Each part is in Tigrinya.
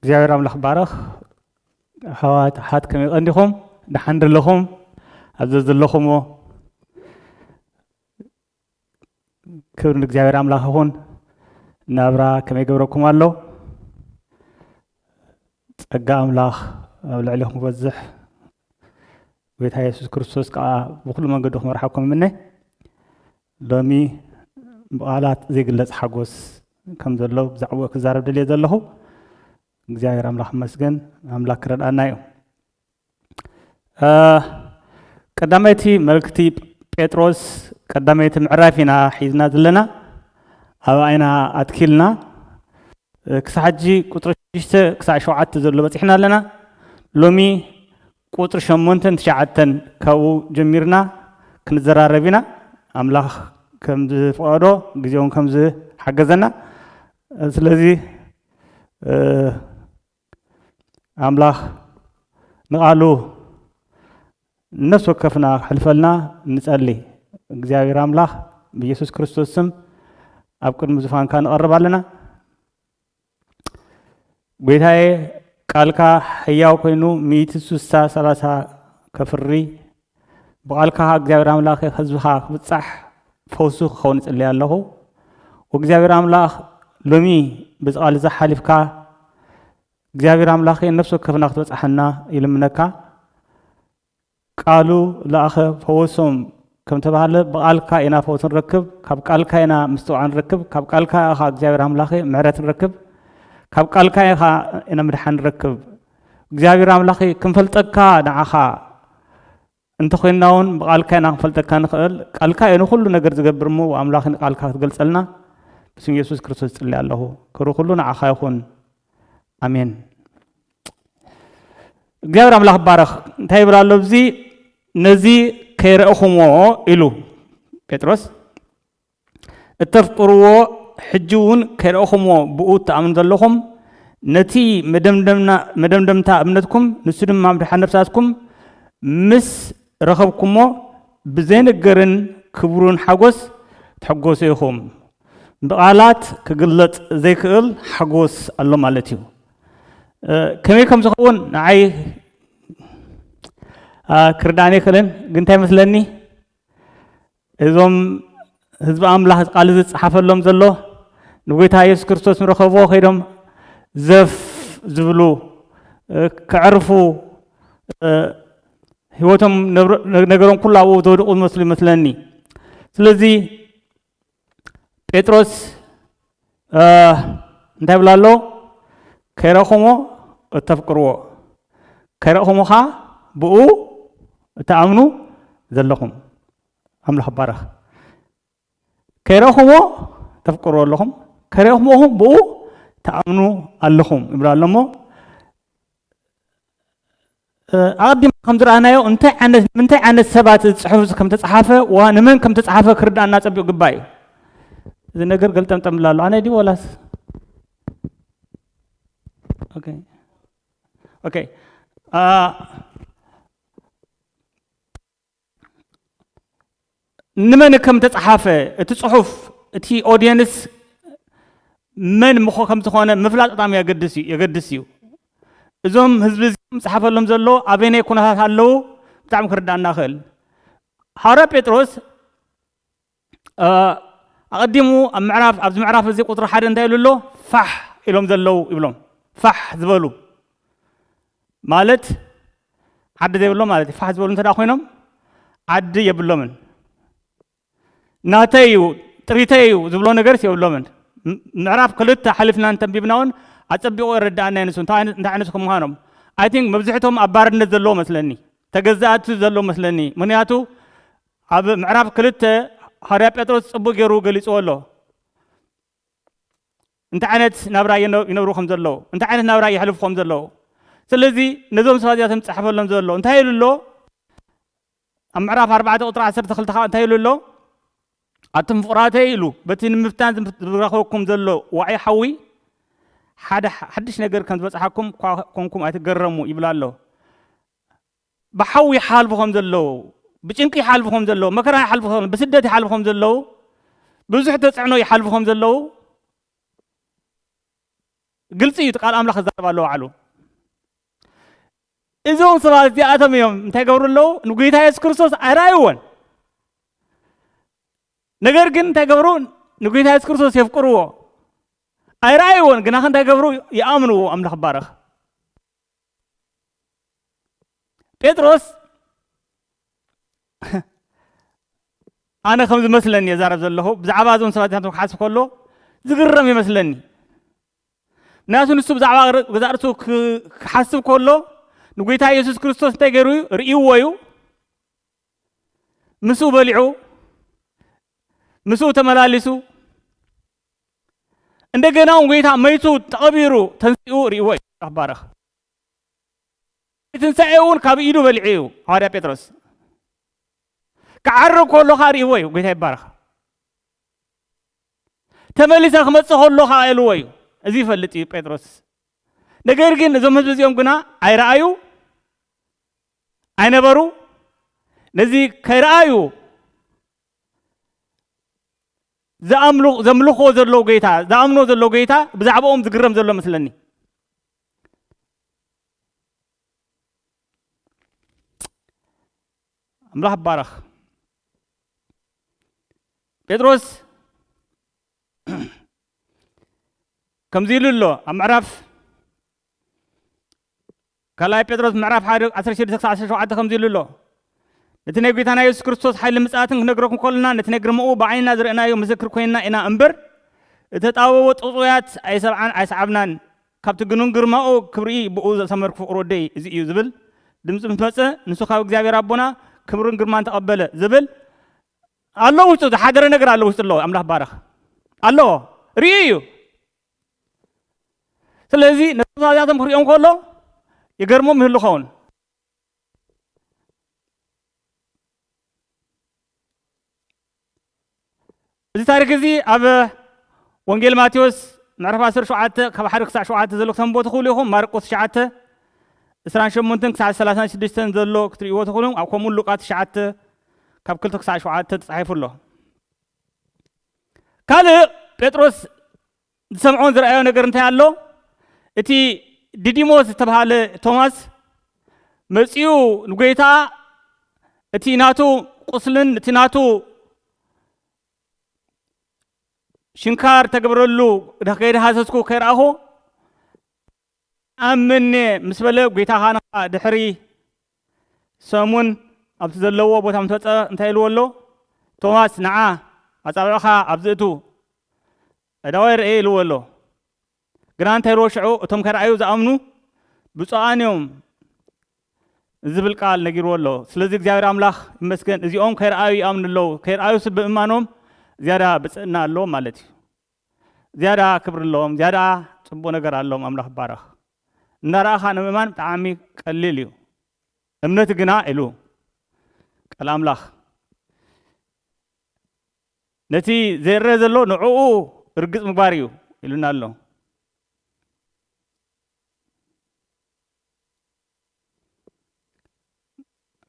እግዚኣብሔር ኣምላኽ ባረኽ ኣሕዋት ኣሓት ከመይ ቀንዲኹም ደሓን ደለኹም ኣብ ዘዘለኹሞ ክብሪ ንእግዚኣብሔር ኣምላኽ ይኹን ናብራ ከመይ ገብረኩም ኣሎ ጸጋ ኣምላኽ ኣብ ልዕሊኹም ክበዝሕ ጎይታ የሱስ ክርስቶስ ከኣ ብዅሉ መንገዱ ክመርሓኩም እምነ። ሎሚ ብቓላት ዘይግለጽ ሓጐስ ከም ዘሎ ብዛዕባኡ ክዛረብ ደልየ ዘለኹ። እግዚኣብሔር ኣምላኽ ይመስገን፣ ኣምላኽ ክረድኣና እዩ። ቀዳመይቲ መልእክቲ ጴጥሮስ ቀዳመይቲ ምዕራፍ ኢና ሒዝና ዘለና፣ ኣብኣ ኢና ኣትኪልና። ክሳዕ ሕጂ ቁጽሪ ሽዱሽተ ክሳዕ ሸውዓተ ዘሎ በጺሕና ኣለና። ሎሚ ቁጽሪ ሸሞንተን ትሽዓተን ካብኡ ጀሚርና ክንዘራረብ ኢና ኣምላኽ ከም ዝፍቐዶ ግዜ ውን ከም ዝሓገዘና ስለዚ ኣምላኽ ንቓሉ ንነፍሲ ወከፍና ክሕልፈልና ንጸሊ እግዚኣብሔር ኣምላኽ ብኢየሱስ ክርስቶስ ስም ኣብ ቅድሚ ዙፋንካ ንቐርብ ኣለና ጐይታዬ ቃልካ ሕያው ኮይኑ ሚእቲ ስሳ ሰላሳ ከፍሪ ብቃልካ እግዚኣብሔር ኣምላኽ ህዝብኻ ክብጻሕ ፈውሱ ክኸውን ይጽልይ ኣለኹ ወእግዚኣብሔር ኣምላኽ ሎሚ በዚ ቃል እዛ ሓሊፍካ እግዚኣብሔር ኣምላኽ ነፍሲ ወከፍና ክትበጽሓና ይልምነካ ቃሉ ለኣኸ ፈወሶም ከም ተባህለ ብቓልካ ኢና ፈውሲ ንረክብ፣ ካብ ቃልካ ኢና ምስትውዓል ንረክብ፣ ካብ ቃልካ ኢኻ እግዚኣብሔር ኣምላኸ ምሕረት ንረክብ፣ ካብ ቃልካ ኢኻ ኢና ምድሓን ንረክብ። እግዚኣብሔር ኣምላኸ ክንፈልጠካ ንዓኻ እንተኾይንና እውን ብቓልካ ኢና ክንፈልጠካ ንኽእል፣ ቃልካ እዩ ንኹሉ ነገር ዝገብር እሞ ኣምላኸ ንቃልካ ክትገልጸልና ብስም ኢየሱስ ክርስቶስ ይጽሊ ኣለኹ። ክብሪ ኩሉ ንዓኻ ይኹን። ኣሜን። እግዚኣብሔር ኣምላኽ ባረኽ እንታይ ይብል ኣሎ እዚ ነዚ ከይረእኹምዎ ኢሉ ጴጥሮስ እተፍቅርዎ ሕጂ እውን ከይረእኹምዎ ብኡ እትኣምኑ ዘለኹም ነቲ መደምደምታ እምነትኩም ንሱ ድማ ምድሓን ነፍሳትኩም ምስ ረኸብኩሞ ብዘይንገርን ክብሩን ሓጎስ ትሕጎሱ ኢኹም ብቓላት ክግለጽ ዘይክእል ሓጎስ ኣሎ ማለት እዩ ከመይ ከም ዝኸውን ንዓይ ክርዳእኒ ኣይክእልን ግን እንታይ መስለኒ እዞም ህዝቢ ኣምላኽ ቃል እዚ ዝፀሓፈሎም ዘሎ ንጎይታ የሱስ ክርስቶስ ንረኸብዎ ከይዶም ዘፍ ዝብሉ ክዕርፉ ህይወቶም ነገሮም ኩሉ ኣብኡ ዝወድቑ ዝመስሉ ይመስለኒ ስለዚ ጴጥሮስ እ፣ እንታይ ብሎ ኣሎ ከይረእኹሞ እተፍቅርዎ ከይረእኹሞ ኸዓ ብኡ እትኣምኑ ዘለኹም ኣምላኽ ባረኽ ከይረእኹሞ ተፍቅርዎ ኣለኹም ከይረእኹሞ ብኡ ትኣምኑ ኣለኹም ይብሎ ኣሎ እሞ ኣቐዲምና ከም ዝረኣናዮ እንታይ ዓይነት ንምንታይ ዓይነት ሰባት እዚ ፅሑፍ እዚ ከም ተፅሓፈ ዋ ንመን ከም ተፅሓፈ ክርዳእና ፀቢቑ ግባእ እዩ እዚ ነገር ገልጠምጠም ኣሎ ኣነ ድዩ ወላስ ኦኬ ኦኬ ንመን ከም ተጻሓፈ እቲ ጽሑፍ እቲ ኦድየንስ መን ምኾ ከም ዝኾነ ምፍላጥ በጣም የገድስ እዩ የገድስ እዩ እዞም ህዝቢ እዚኦም ዝጽሓፈሎም ዘሎ ኣበየናይ ኩነታት ኣለዉ ብጣዕሚ ክርዳእና ክእል ሃዋርያ ጴጥሮስ ኣቐዲሙ ኣብ ምዕራፍ ኣብዚ ምዕራፍ እዚ ቁፅሪ ሓደ እንታይ ኢሉ ኣሎ ፋሕ ኢሎም ዘለው ይብሎም ፋሕ ዝበሉ ማለት ዓዲ ዘይብሎም ማለት እዩ ፋሕ ዝበሉ እንተ ኮይኖም ዓዲ የብሎምን ናተይ እዩ ጥሪተይ እዩ ዝብሎ ነገርስ የብሎምን ምዕራፍ ክልተ ሓሊፍና እንተንቢብና እውን ኣፀቢቑ የረዳእና ንሱ እንታይ ዓይነት ከምዃኖም ኣይ ቲንክ መብዝሕቶም ኣብ ባርነት ዘለዎ መስለኒ ተገዛእቲ ዘለዎ መስለኒ ምክንያቱ ኣብ ምዕራፍ ክልተ ሃዋርያ ጴጥሮስ ጽቡቕ ገይሩ ገሊጽዎ ኣሎ። እንታይ ዓይነት ናብራ ይነብሩ ከም ዘለዉ፣ እንታይ ዓይነት ናብራ የሕልፉ ከም ዘለዉ። ስለዚ ነዞም ሰባት እዚኣቶም ዝጸሓፈሎም ዘሎ እንታይ ኢሉ ኣሎ? ኣብ ምዕራፍ ኣርባዕተ ቁጥሪ ዓሰርተ ክልተ ከዓ እንታይ ኢሉ ኣሎ? ኣቱም ፍቕራተይ ኢሉ በቲ ንምፍታን ዝረኸበኩም ዘሎ ዋዒ ሓዊ ሓደ ሓድሽ ነገር ከም ዝበጽሓኩም እኳ ኮንኩም ኣይትገረሙ ይብላ ኣሎ። ብሓዊ ይሓልፉ ከም ዘለዉ፣ ብጭንቂ ይሓልፉ ከም ዘለዉ፣ መከራ ይሓልፉ ከም ዘለዉ፣ ብስደት ይሓልፉ ከም ዘለዉ፣ ብዙሕ ተጽዕኖ ይሓልፉ ከም ዘለዉ ግልጺ እዩ። እቲ ቃል ኣምላኽ ክዛረብ ኣለዎ ባዕሉ። እዞም ሰባት እዚኣቶም እዮም እንታይ ገብሩ ኣለዉ ንጎይታ የሱስ ክርስቶስ ኣይረኣይዎን ነገር ግን እንታይ ገብሩ ንጎይታ የሱስ ክርስቶስ የፍቅርዎ ኣይረኣይዎን ግና እንታይ ገብሩ ይኣምንዎ ኣምላኽ ባረኽ ጴጥሮስ ኣነ ከም ዝመስለኒ እየ ዛረብ ዘለኹ ብዛዕባ እዞም ሰባት ናቶም ክሓስብ ከሎ ዝግረም ይመስለኒ ምክንያቱ ንሱ ብዛዕባ ገዛ ርእሱ ክሓስብ ከሎ ንጎይታ ኢየሱስ ክርስቶስ እንታይ ገይሩ እዩ ርእይዎ እዩ ምስኡ በሊዑ ምስኡ ተመላሊሱ እንደገና እውን ጎይታ መይቱ ተቐቢሩ ተንሲኡ ርእይዎ እዩ መጽሓፍ ባርኽ ትንሳኤ እውን ካብ ኢዱ በሊዑ እዩ ሃዋርያ ጴጥሮስ ክዓርግ ከሎ ከዓ ርእይዎ እዩ ጎይታ ይባርኽ ተመሊሰ ክመፅእ ከሎ ከዓ ኢልዎ እዩ እዚ ይፈልጥ እዩ ጴጥሮስ ነገር ግን እዞም ህዝቢ እዚኦም ግና ኣይረኣዩ ኣይነበሩ ነዚ ከይረኣዩ ዝኣምሉ ዘምልኽዎ ዘለዉ ጌታ ዝኣምንዎ ዘለዉ ጌታ ብዛዕባኦም ዝግረም ዘሎ መስለኒ ኣምላኽ ባረኽ ጴጥሮስ ከምዚ ኢሉ ኣሎ ኣብ ምዕራፍ ካልኣይ ጴጥሮስ ምዕራፍ ሓደ ዓሰርተ ሽዱሽተ ክሳዕ ዓሰርተ ሸውዓተ ከምዚ ኢሉ ኣሎ፣ ነቲ ናይ ጐይታና የሱስ ክርስቶስ ሓይልን ምጽኣትን ክንነግረኩም ከሎና፣ ነቲ ናይ ግርማኡ ብዓይንና ዝረእናዮ ምስክር ኰይንና ኢና እምበር፣ እተጣበቦ ጥውጽዋያት ኣይሰብዓን ኣይሰዓብናን፣ ካብቲ ግኑን ግርማኡ ክብሪ ብእኡ ዘሰመርኩ ፍቕሪ ወደይ እዚ እዩ ዝብል ድምጺ ምስ መጸ፣ ንሱ ካብ እግዚኣብሔር ኣቦና ክብርን ግርማን ተቐበለ ዝብል ኣሎ ውሽጡ ዝሓደረ ነገር ኣሎ ውሽጡ ኣሎ ኣምላኽ ባረኽ ኣሎ ርእዩ እዩ። ስለዚ ነቶም ኣብያቶም ክሪኦም ከሎ ይገርሞም ይህሉ ኸውን እዚ ታሪክ እዚ ኣብ ወንጌል ማቴዎስ ምዕራፍ 17 ካብ ሓደ ክሳዕ ሸውዓተ ዘሎ ክተንቦ ትኽእሉ ኢኹም ማርቆስ ትሽዓተ እስራን ሸሞንተን ክሳዕ ሰላሳን ሽዱሽተን ዘሎ ክትርእይዎ ትኽእሉ ከምኡ ሉቃ ትሽዓተ ካብ ክልተ ክሳዕ ሸውዓተ ተፃሒፉ ኣሎ ካልእ ጴጥሮስ ዝሰምዖን ዝረኣዮ ነገር እንታይ ኣሎ እቲ ዲዲሞስ ዝተብሃለ ቶማስ መፂኡ ንጎይታ እቲ ናቱ ቁስልን እቲ ናቱ ሽንካር ተገብረሉ ከይደሃሰስኩ ከይረኣኹ ኣምኔ ምስ በለ ጐይታ ኻንኻ ድሕሪ ሰሙን ኣብቲ ዘለዎ ቦታ ምስ ወጸ እንታይ ኢልዎ ኣሎ? ቶማስ ንዓ ኣጻብዕኻ ኣብዚ እቱ ኣእዳወይ ርኤ ኢልዎ ኣሎ። ግና እንታይ ኢልዎ ሽዑ እቶም ከረኣዩ ዝኣምኑ ብጹኣን እዮም ዝብል ቃል ነጊርዎ ኣሎ። ስለዚ እግዚኣብሔር ኣምላኽ ይመስገን እዚኦም ከይረኣዩ ይኣምኑ ኣለዉ። ከይረኣዩስ ብምእማኖም ዝያዳ ብጽእና ኣለዎም ማለት እዩ። ዝያዳ ክብሪ ኣለዎም ዝያዳ ጽቡቅ ነገር ኣለዎም ኣምላኽ ይባረኽ እናረኣኻ ንምእማን ብጣዕሚ ቀሊል እዩ እምነት ግና ኢሉ ቃል ኣምላኽ ነቲ ዘይረአ ዘሎ ንዕኡ እርግጽ ምግባር እዩ ኢሉና ኣሎ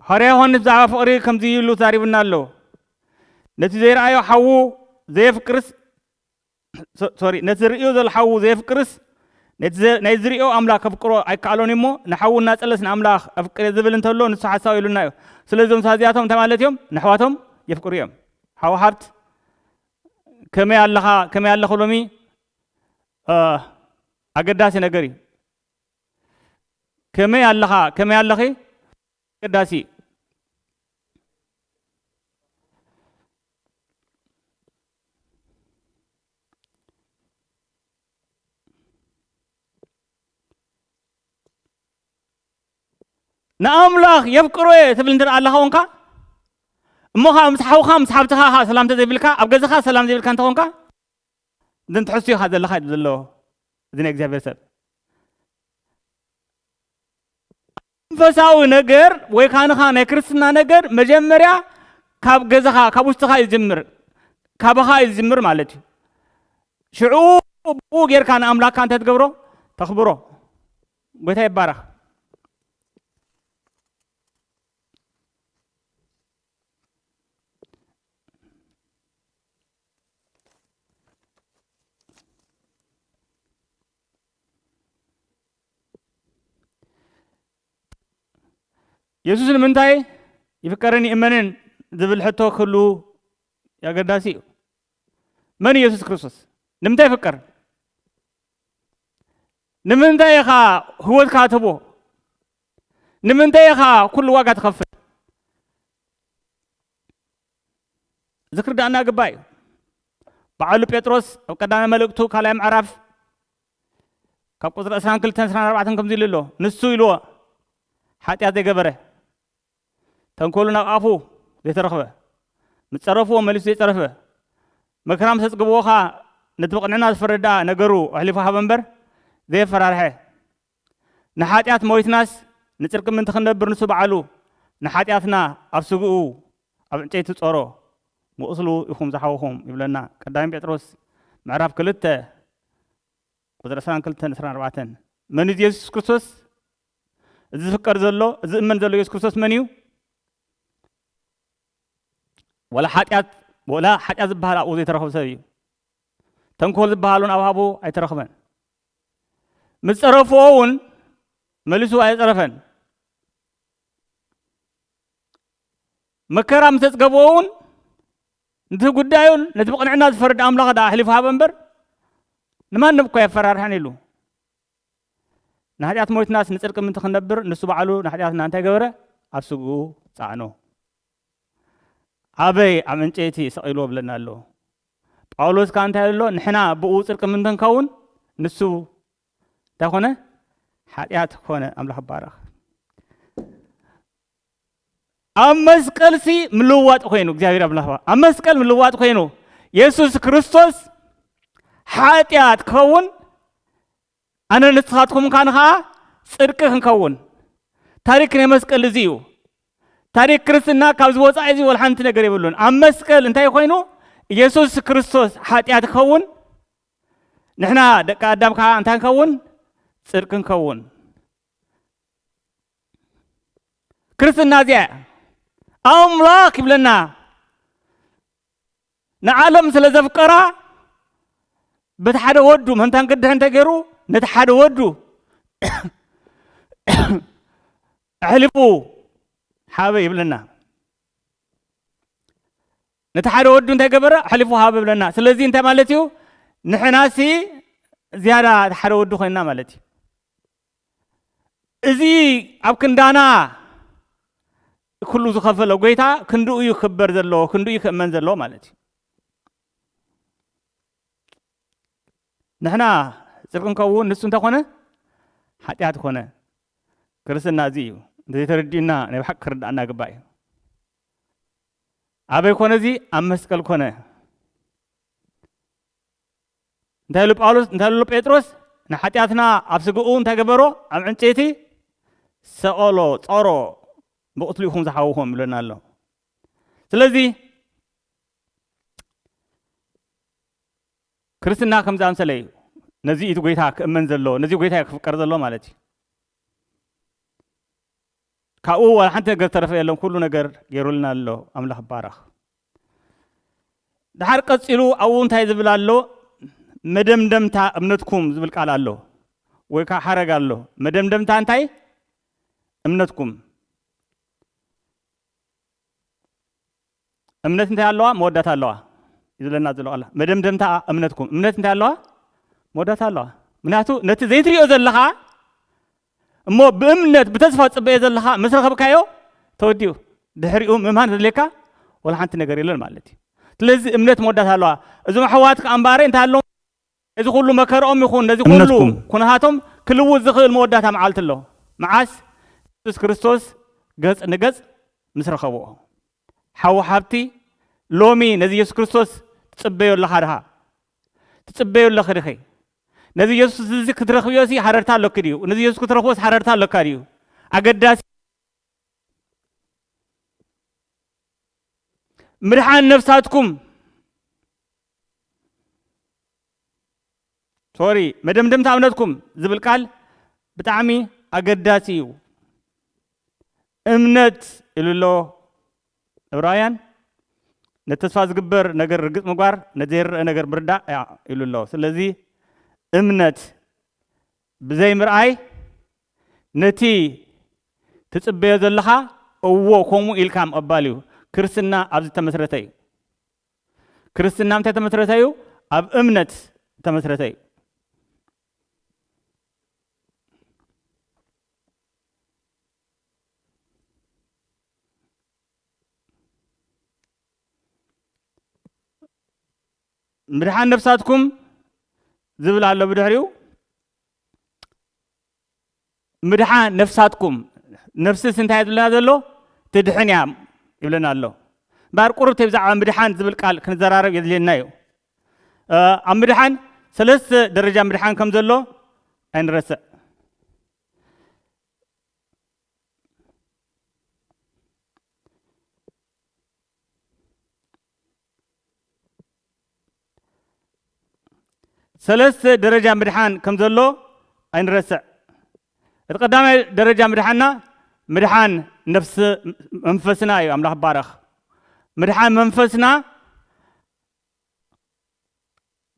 ሃርያ ዮሃንስ ብዛዕባ ፍቕሪ ከምዚ ኢሉ ተዛሪቡና ኣሎ ነቲ ዘይረኣዮ ሓዉ ዘየፍቅርስ ሶሪ ነቲ ዝርእዮ ዘሎ ሓዉ ዘየፍቅርስ ናይ ዝሪኦ ኣምላክ ከፍቅሮ ኣይከኣሎን እሞ ንሓዉ እናጸለስ ንኣምላኽ ኣፍቅሬ ዝብል እንተሎ ንሱ ሓሳዊ ኢሉና እዩ ስለዚ እዞም ሰባት እዚኣቶም እንታይ ማለት እዮም ንኣሕዋቶም የፍቅሩ እዮም ሓዉ ሓብት ከመይ ኣለኻ ከመይ ኣለኹ ሎሚ ኣገዳሲ ነገር እዩ ከመይ ኣለኻ ከመይ ኣለኺ ኣገዳሲ እዩ። ንኣምላኽ የፍቅሮ እየ ትብል እንተ ኣለኻ ኮንካ እሞ ከዓ ምስ ሓውካ ምስ ሓብትኻ ከዓ ሰላም እንተዘይብልካ ኣብ ገዛኻ ሰላም ዘይብልካ እንተኾንካ እዘን ትሕሱ ኢኻ ዘለኻ ኢሉ ዘሎ እዚ ናይ እግዚኣብሔር ሰብ መንፈሳዊ ነገር ወይ ካንኻ ናይ ክርስትና ነገር መጀመርያ ካብ ገዛኻ ካብ ውሽጥኻ እዩ ዝጅምር ካባኻ እዩ ዝጅምር ማለት እዩ ሽዑ ብኡ ጌርካ ንኣምላክካ እንታይ ትገብሮ ተኽብሮ ጎይታ ይባረኽ የሱስ ንምንታይ ይፍቀርን ይእመንን ዝብል ሕቶ ክህሉ ኣገዳሲ እዩ መን እዩ የሱስ ክርስቶስ ንምንታይ ይፍቀር ንምንታይ ኢኻ ህወትካ ትህቦ ንምንታይ ኢኻ ኩሉ ዋጋ ትኸፍል እዚ ክርድኣና ግባእ እዩ። በዓሉ ጴጥሮስ ኣብ ቀዳማይ መልእክቱ ካልኣይ ምዕራፍ ካብ ቁፅሪ ዕስራን ክልተን ዕስራን ኣርባዕተን ከምዚ ኢሉ ኣሎ ንሱ ኢልዎ ሓጢኣት ዘይገበረ ተንኮሉ ናብ ኣፉ ዘይተረኽበ ምስ ጸረፍዎ መሊሱ ዘይጸረፈ መከራ ምስ ኣጽግብዎ ኸኣ ነቲ ብቕንዕና ዝፈርድ ደኣ ነገሩ ኣሕሊፉ ሃበ እምበር ዘየፈራርሐ ንሓጢኣት ሞይትናስ ንጽድቂ ምእንቲ ክንነብር ንሱ ባዕሉ ንሓጢኣትና ኣብ ስግኡ ኣብ ዕንጨይቲ ጾሮ፣ ብቁስሉ ኢኹም ዝሓወኹም ይብለና ቀዳማይ ጴጥሮስ ምዕራፍ ክልተ ቁጽሪ ዕስራን ክልተን ዕስራን ኣርባዕተን። መን እዩ እዚ የሱስ ክርስቶስ? እዚ ዝፍቀር ዘሎ እዚ እመን ዘሎ የሱስ ክርስቶስ መን እዩ? ወላ ሓጢኣት ወላ ሓጢኣት ዝበሃል ኣብኡ ዘይተረኽበ ሰብ እዩ። ተንኮል ዝበሃሉን ኣብሃቡ ኣይተረኽበን። ምስ ጸረፍዎ እውን መሊሱ ኣየጸረፈን። መከራ ምስ ኣጽገብዎ እውን ነቲ ጉዳዩ ነቲ ብቕንዕና ዝፈርድ ኣምላኽ ደኣ ኣሕሊፉ ሃበ እምበር ንማንም እኳ የፈራርሐን ኢሉ ንሓጢኣት ሞይትናስ ንጽድቂ ምእንቲ ክንነብር ንሱ ባዕሉ ንሓጢኣትና እንታይ ገበረ ኣብ ስግኡ ጸዕኖ ኣበይ ኣብ ዕንጨይቲ ሰቒልዎ እብለና ኣሎ። ጳውሎስ ከኣ እንታይ ኣሎ ንሕና ብእኡ ጽድቂ ምእንቲ ንከውን ንሱ እንታይ ኮነ ሓጢኣት ኮነ ኣምላኽ ባረኽ ኣብ መስቀልሲ ምልዋጥ ኮይኑ እግዚኣብሔር ኣምላኽ ኣብ መስቀል ምልዋጥ ኮይኑ የሱስ ክርስቶስ ሓጢኣት ክኸውን ኣነ ንስኻትኩም ካን ኸኣ ጽድቂ ክንከውን። ታሪክ ናይ መስቀል እዚ እዩ። ታሪክ ክርስትና ካብዚ ወጻኢ እዚ ወላ ሓንቲ ነገር የብሉን። ኣብ መስቀል እንታይ ኮይኑ ኢየሱስ ክርስቶስ ሓጢኣት ክኸውን ንሕና ደቂ ኣዳም ከዓ እንታይ ንከውን ጽድቂ ንከውን ክርስትና እዚኣ ኣምላኽ ይብለና ንዓለም ስለ ዘፍቀራ በቲ ሓደ ወዱ መንታን ቅድሕ እንተገይሩ ነቲ ሓደ ወዱ ኣሕሊፉ ሓበ ይብለና ነቲ ሓደ ወዱ እንታይ ገበረ ኣሕሊፉ ሃበ ይብለና ስለዚ እንታይ ማለት እዩ ንሕናሲ ዝያዳ ሓደ ወዱ ኮይንና ማለት እዩ እዚ ኣብ ክንዳና ኩሉ ዝኸፈሎ ጎይታ ክንድኡ እዩ ክክበር ዘለዎ ክንድኡ እዩ ክእመን ዘለዎ ማለት እዩ ንሕና ፅድቂ እንከውን ንሱ እንተኾነ ሓጢኣት ኮነ ክርስትና እዚ እዩ እንተዘይተረዲኡና ናይ ብሓቂ ክርዳእና ግባእ እዩ ኣበይ ኮነ እዚ ኣብ መስቀል ኮነ እንታይ ኢሉ ጳውሎስ እንታይ ኢሉ ጴጥሮስ ንሓጢኣትና ኣብ ስግኡ እንታይ ገበሮ ኣብ ዕንጨይቲ ሰቐሎ ጸሮ ብቕትሉ ኢኹም ዝሓውኹም ይብለና ኣሎ ስለዚ ክርስትና ከም ዝኣምሰለ እዩ ነዚ እቲ ጎይታ ክእመን ዘሎ ነዚ ጎይታ ክፍቀር ዘሎ ማለት እዩ ካብኡ ዋላ ሓንቲ ነገር ተረፈ የለን ኩሉ ነገር ገይሩልና ኣሎ ኣምላኽ ባረኽ ድሓር ቀጺሉ ኣብኡ እንታይ ዝብል ኣሎ መደምደምታ እምነትኩም ዝብል ቃል ኣሎ ወይ ከዓ ሓረግ ኣሎ መደምደምታ እንታይ እምነትኩም እምነት እንታይ ኣለዋ መወዳእታ ኣለዋ እዩ ዝለና ዘሎ ቃላ መደምደምታ እምነትኩም እምነት እንታይ ኣለዋ መወዳእታ ኣለዋ ምክንያቱ ነቲ ዘይትሪኦ ዘለኻ እሞ ብእምነት ብተስፋ ትጽበዮ ዘለኻ ምስ ረኸብካዮ ተወዲኡ ድሕሪኡ ምእማን ዘድልየካ ወላ ሓንቲ ነገር የለን ማለት እዩ ስለዚ እምነት መወዳእታ ኣለዋ እዞም ኣሕዋት ከኣ እምበኣረይ እንታይ ኣሎ እዚ ኩሉ መከርኦም ይኹን ነዚ ኩሉ እምነትኩም ኩነታቶም ክልውጥ ዝኽእል መወዳእታ መዓልቲ ኣሎ መዓስ የሱስ ክርስቶስ ገጽ ንገጽ ምስ ረኸብኦ ሓው ሓብቲ ሎሚ ነዚ የሱስ ክርስቶስ ትጽበዮ ኣለኻ ድኻ ትጽበዮ ኣለኺ ዲኺ? ነዚ የሱስ እዚ ክትረኽብዮሲ ሃረርታ ኣሎኪ ድዩ? ነዚ የሱስ ክትረኽቦስ ሃረርታ ኣሎካ ድዩ? ኣገዳሲ ምድሓን ነፍሳትኩም ሶሪ መደምደምታ እምነትኩም ዝብል ቃል ብጣዕሚ ኣገዳሲ እዩ። እምነት ኢሉ ኣሎ ዕብራውያን፣ ነቲ ተስፋ ዚግበር ነገር ርግጽ ምግባር፣ ነቲ ዘይርኣ ነገር ምርዳእ እያ ኢሉ ኣሎ። ስለዚ፣ እምነት ብዘይ ምርኣይ፣ ነቲ ትጽበዮ ዘለኻ እዎ ከምኡ ኢልካ ምቕባል እዩ። ክርስትና ኣብዚ እተመስረተ እዩ። ክርስትና ኣብ እንታይ እተመስረተ እዩ? ኣብ እምነት እተመስረተ እዩ። ምድሓን ነፍሳትኩም ዝብል ኣሎ ብድሕሪኡ ምድሓን ነፍሳትኩም ነፍስስ እንታይ ዝብለና ዘሎ ትድሕን እያ ይብለና ኣሎ እምበር ቁርብቲ ብዛዕባ ምድሓን ዝብል ቃል ክንዘራረብ የድልየና እዩ ኣብ ምድሓን ሰለስተ ደረጃ ምድሓን ከም ዘሎ ኣይንረስዕ ሰለስተ ደረጃ ምድሓን ከም ዘሎ ኣይንረስዕ። እቲ ቀዳማይ ደረጃ ምድሓንና ምድሓን ነፍሲ መንፈስና እዩ። ኣምላኽ ባረኽ ምድሓን መንፈስና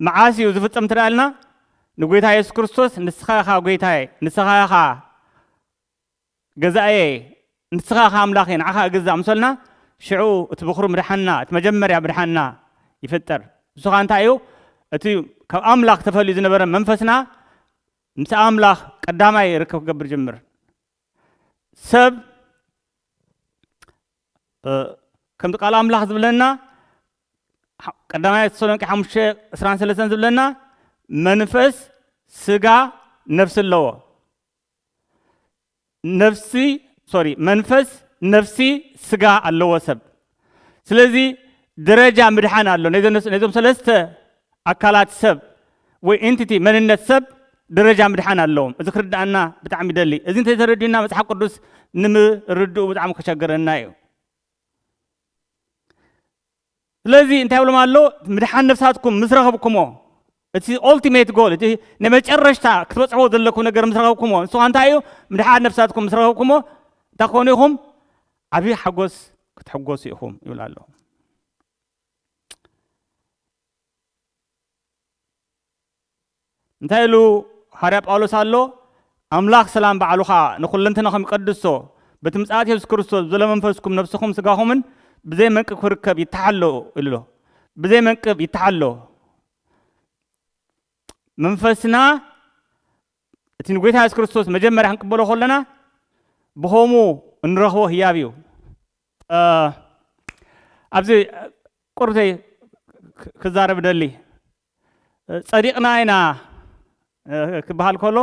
መዓስ እዩ ዝፍጸም እንተ ኢልና ንጎይታ የሱስ ክርስቶስ ንስኻ ኢኻ ጎይታየ ንስኻ ኢኻ ገዛእየ ንስኻ ኢኻ ኣምላኸ ንዓኻ እግዛእ ምሰልና ሽዑ እቲ ብኽሩ ምድሓንና እቲ መጀመርያ ምድሓንና ይፍጠር እሱ ኸ እንታይ እዩ እቲ ካብ ኣምላኽ ተፈልዩ ዝነበረ መንፈስና ምስ ኣምላኽ ቀዳማይ ርክብ ክገብር ጅምር ሰብ ከምቲ ቃል ኣምላኽ ዝብለና ቀዳማይ ተሰሎንቄ ሓሙሽተ ዕስራን ሰለስተን ዝብለና መንፈስ ስጋ ነፍሲ ኣለዎ ነፍሲ ሶሪ መንፈስ ነፍሲ ስጋ ኣለዎ ሰብ ስለዚ ደረጃ ምድሓን ኣሎ ነዞም ሰለስተ ኣካላት ሰብ ወይ ኢንቲቲ፣ መንነት ሰብ፣ ደረጃ ምድሓን ኣለዎም። እዚ ክርድኣና ብጣዕሚ ይደሊ። እዚ እንተይተረዲኡና መጽሓፍ ቅዱስ ንምርድኡ ብጣዕሚ ክቸግረና እዩ። ስለዚ እንታይ ይብሎም ኣሎ? ምድሓን ነፍሳትኩም ምስ ረኸብኩሞ እቲ ኦልቲሜት ጎል እቲ ናይ መጨረሽታ ክትበጽሕዎ ዘለኩም ነገር ምስ ረኸብኩሞ ንሱ ኸ እንታይ እዩ? ምድሓን ነፍሳትኩም ምስ ረኸብኩሞ እንታይ ክኾኑ ኢኹም? ዓብዪ ሓጎስ ክትሕጎሱ ኢኹም ይብል ኣሎ። እንታይ ኢሉ ሃርያ ጳውሎስ ኣሎ? ኣምላኽ ሰላም ባዕሉ ኸኣ ንኹለንትናኹም ይቀድሶ፣ በቲ ምጽኣት የሱስ ክርስቶስ ብዘሎ መንፈስኩም ነፍስኹም ስጋኹምን ብዘይ መንቅብ ክርከብ ይተሓሎ ኢሉ ኣሎ። ብዘይ መንቅብ ይተሓሎ። መንፈስና እቲ ንጐይታ የሱስ ክርስቶስ መጀመርያ ክንቅበሎ ከለና ብኸምኡ እንረኽቦ ህያብ እዩ። ኣብዚ ቁርብተይ ክዛረብ እደሊ፣ ጸዲቕና ኢና ክበሃል ከሎ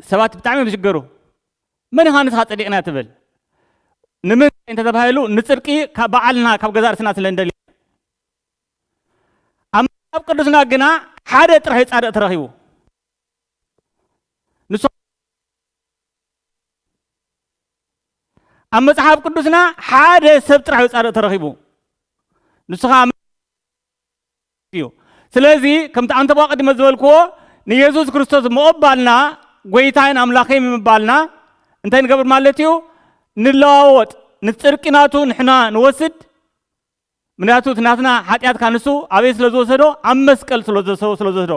ሰባት ብጣዕሚ እዮም ዝሽገሩ። መን ኢኻ ንስኻ ጸዲቕና ትብል? ንምንታይ እንተተባሂሉ ንጽድቂ ካብ በዓልና ካብ ገዛእ ርእስና ስለ እንደሊ ኣብ መጽሓፍ ቅዱስና ግና ሓደ ጥራይ ጻድቕ ተረኺቡ ንሱ ኣብ መጽሓፍ ቅዱስና ሓደ ሰብ ጥራሕ ጻድቕ ተረኺቡ ንሱ ከዓ እዩ ስለዚ ከምቲ ኣንተ ቅድመ ዝበልክዎ ንየሱስ ክርስቶስ ምቕባልና ጎይታይን ኣምላኸይ ምባልና እንታይ ንገብር ማለት እዩ ንለዋወጥ ንፅርቂ ናቱ ንሕና ንወስድ ምክንያቱ እቲ ናትና ሓጢኣት ካኣ ንሱ ኣበይ ስለ ዝወሰዶ ኣብ መስቀል ስለ ዝወሰዶ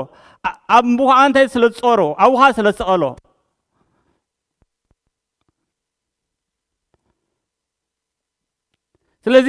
ኣብኡ ካኣ እንታይ ስለ ዝጾሮ ኣብኡ ካኣ ስለ ዝሰቐሎ ስለዚ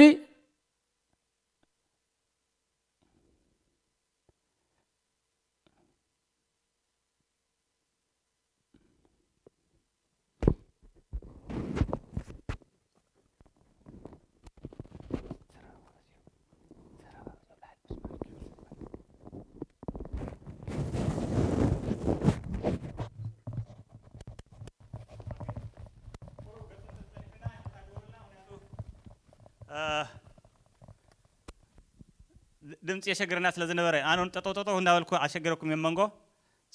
ድምፂ የሸግረና ስለዝነበረ ኣነ እውን ጠጠው ጠጠው እንዳበልኩ ኣሸግረኩም እየ መንጎ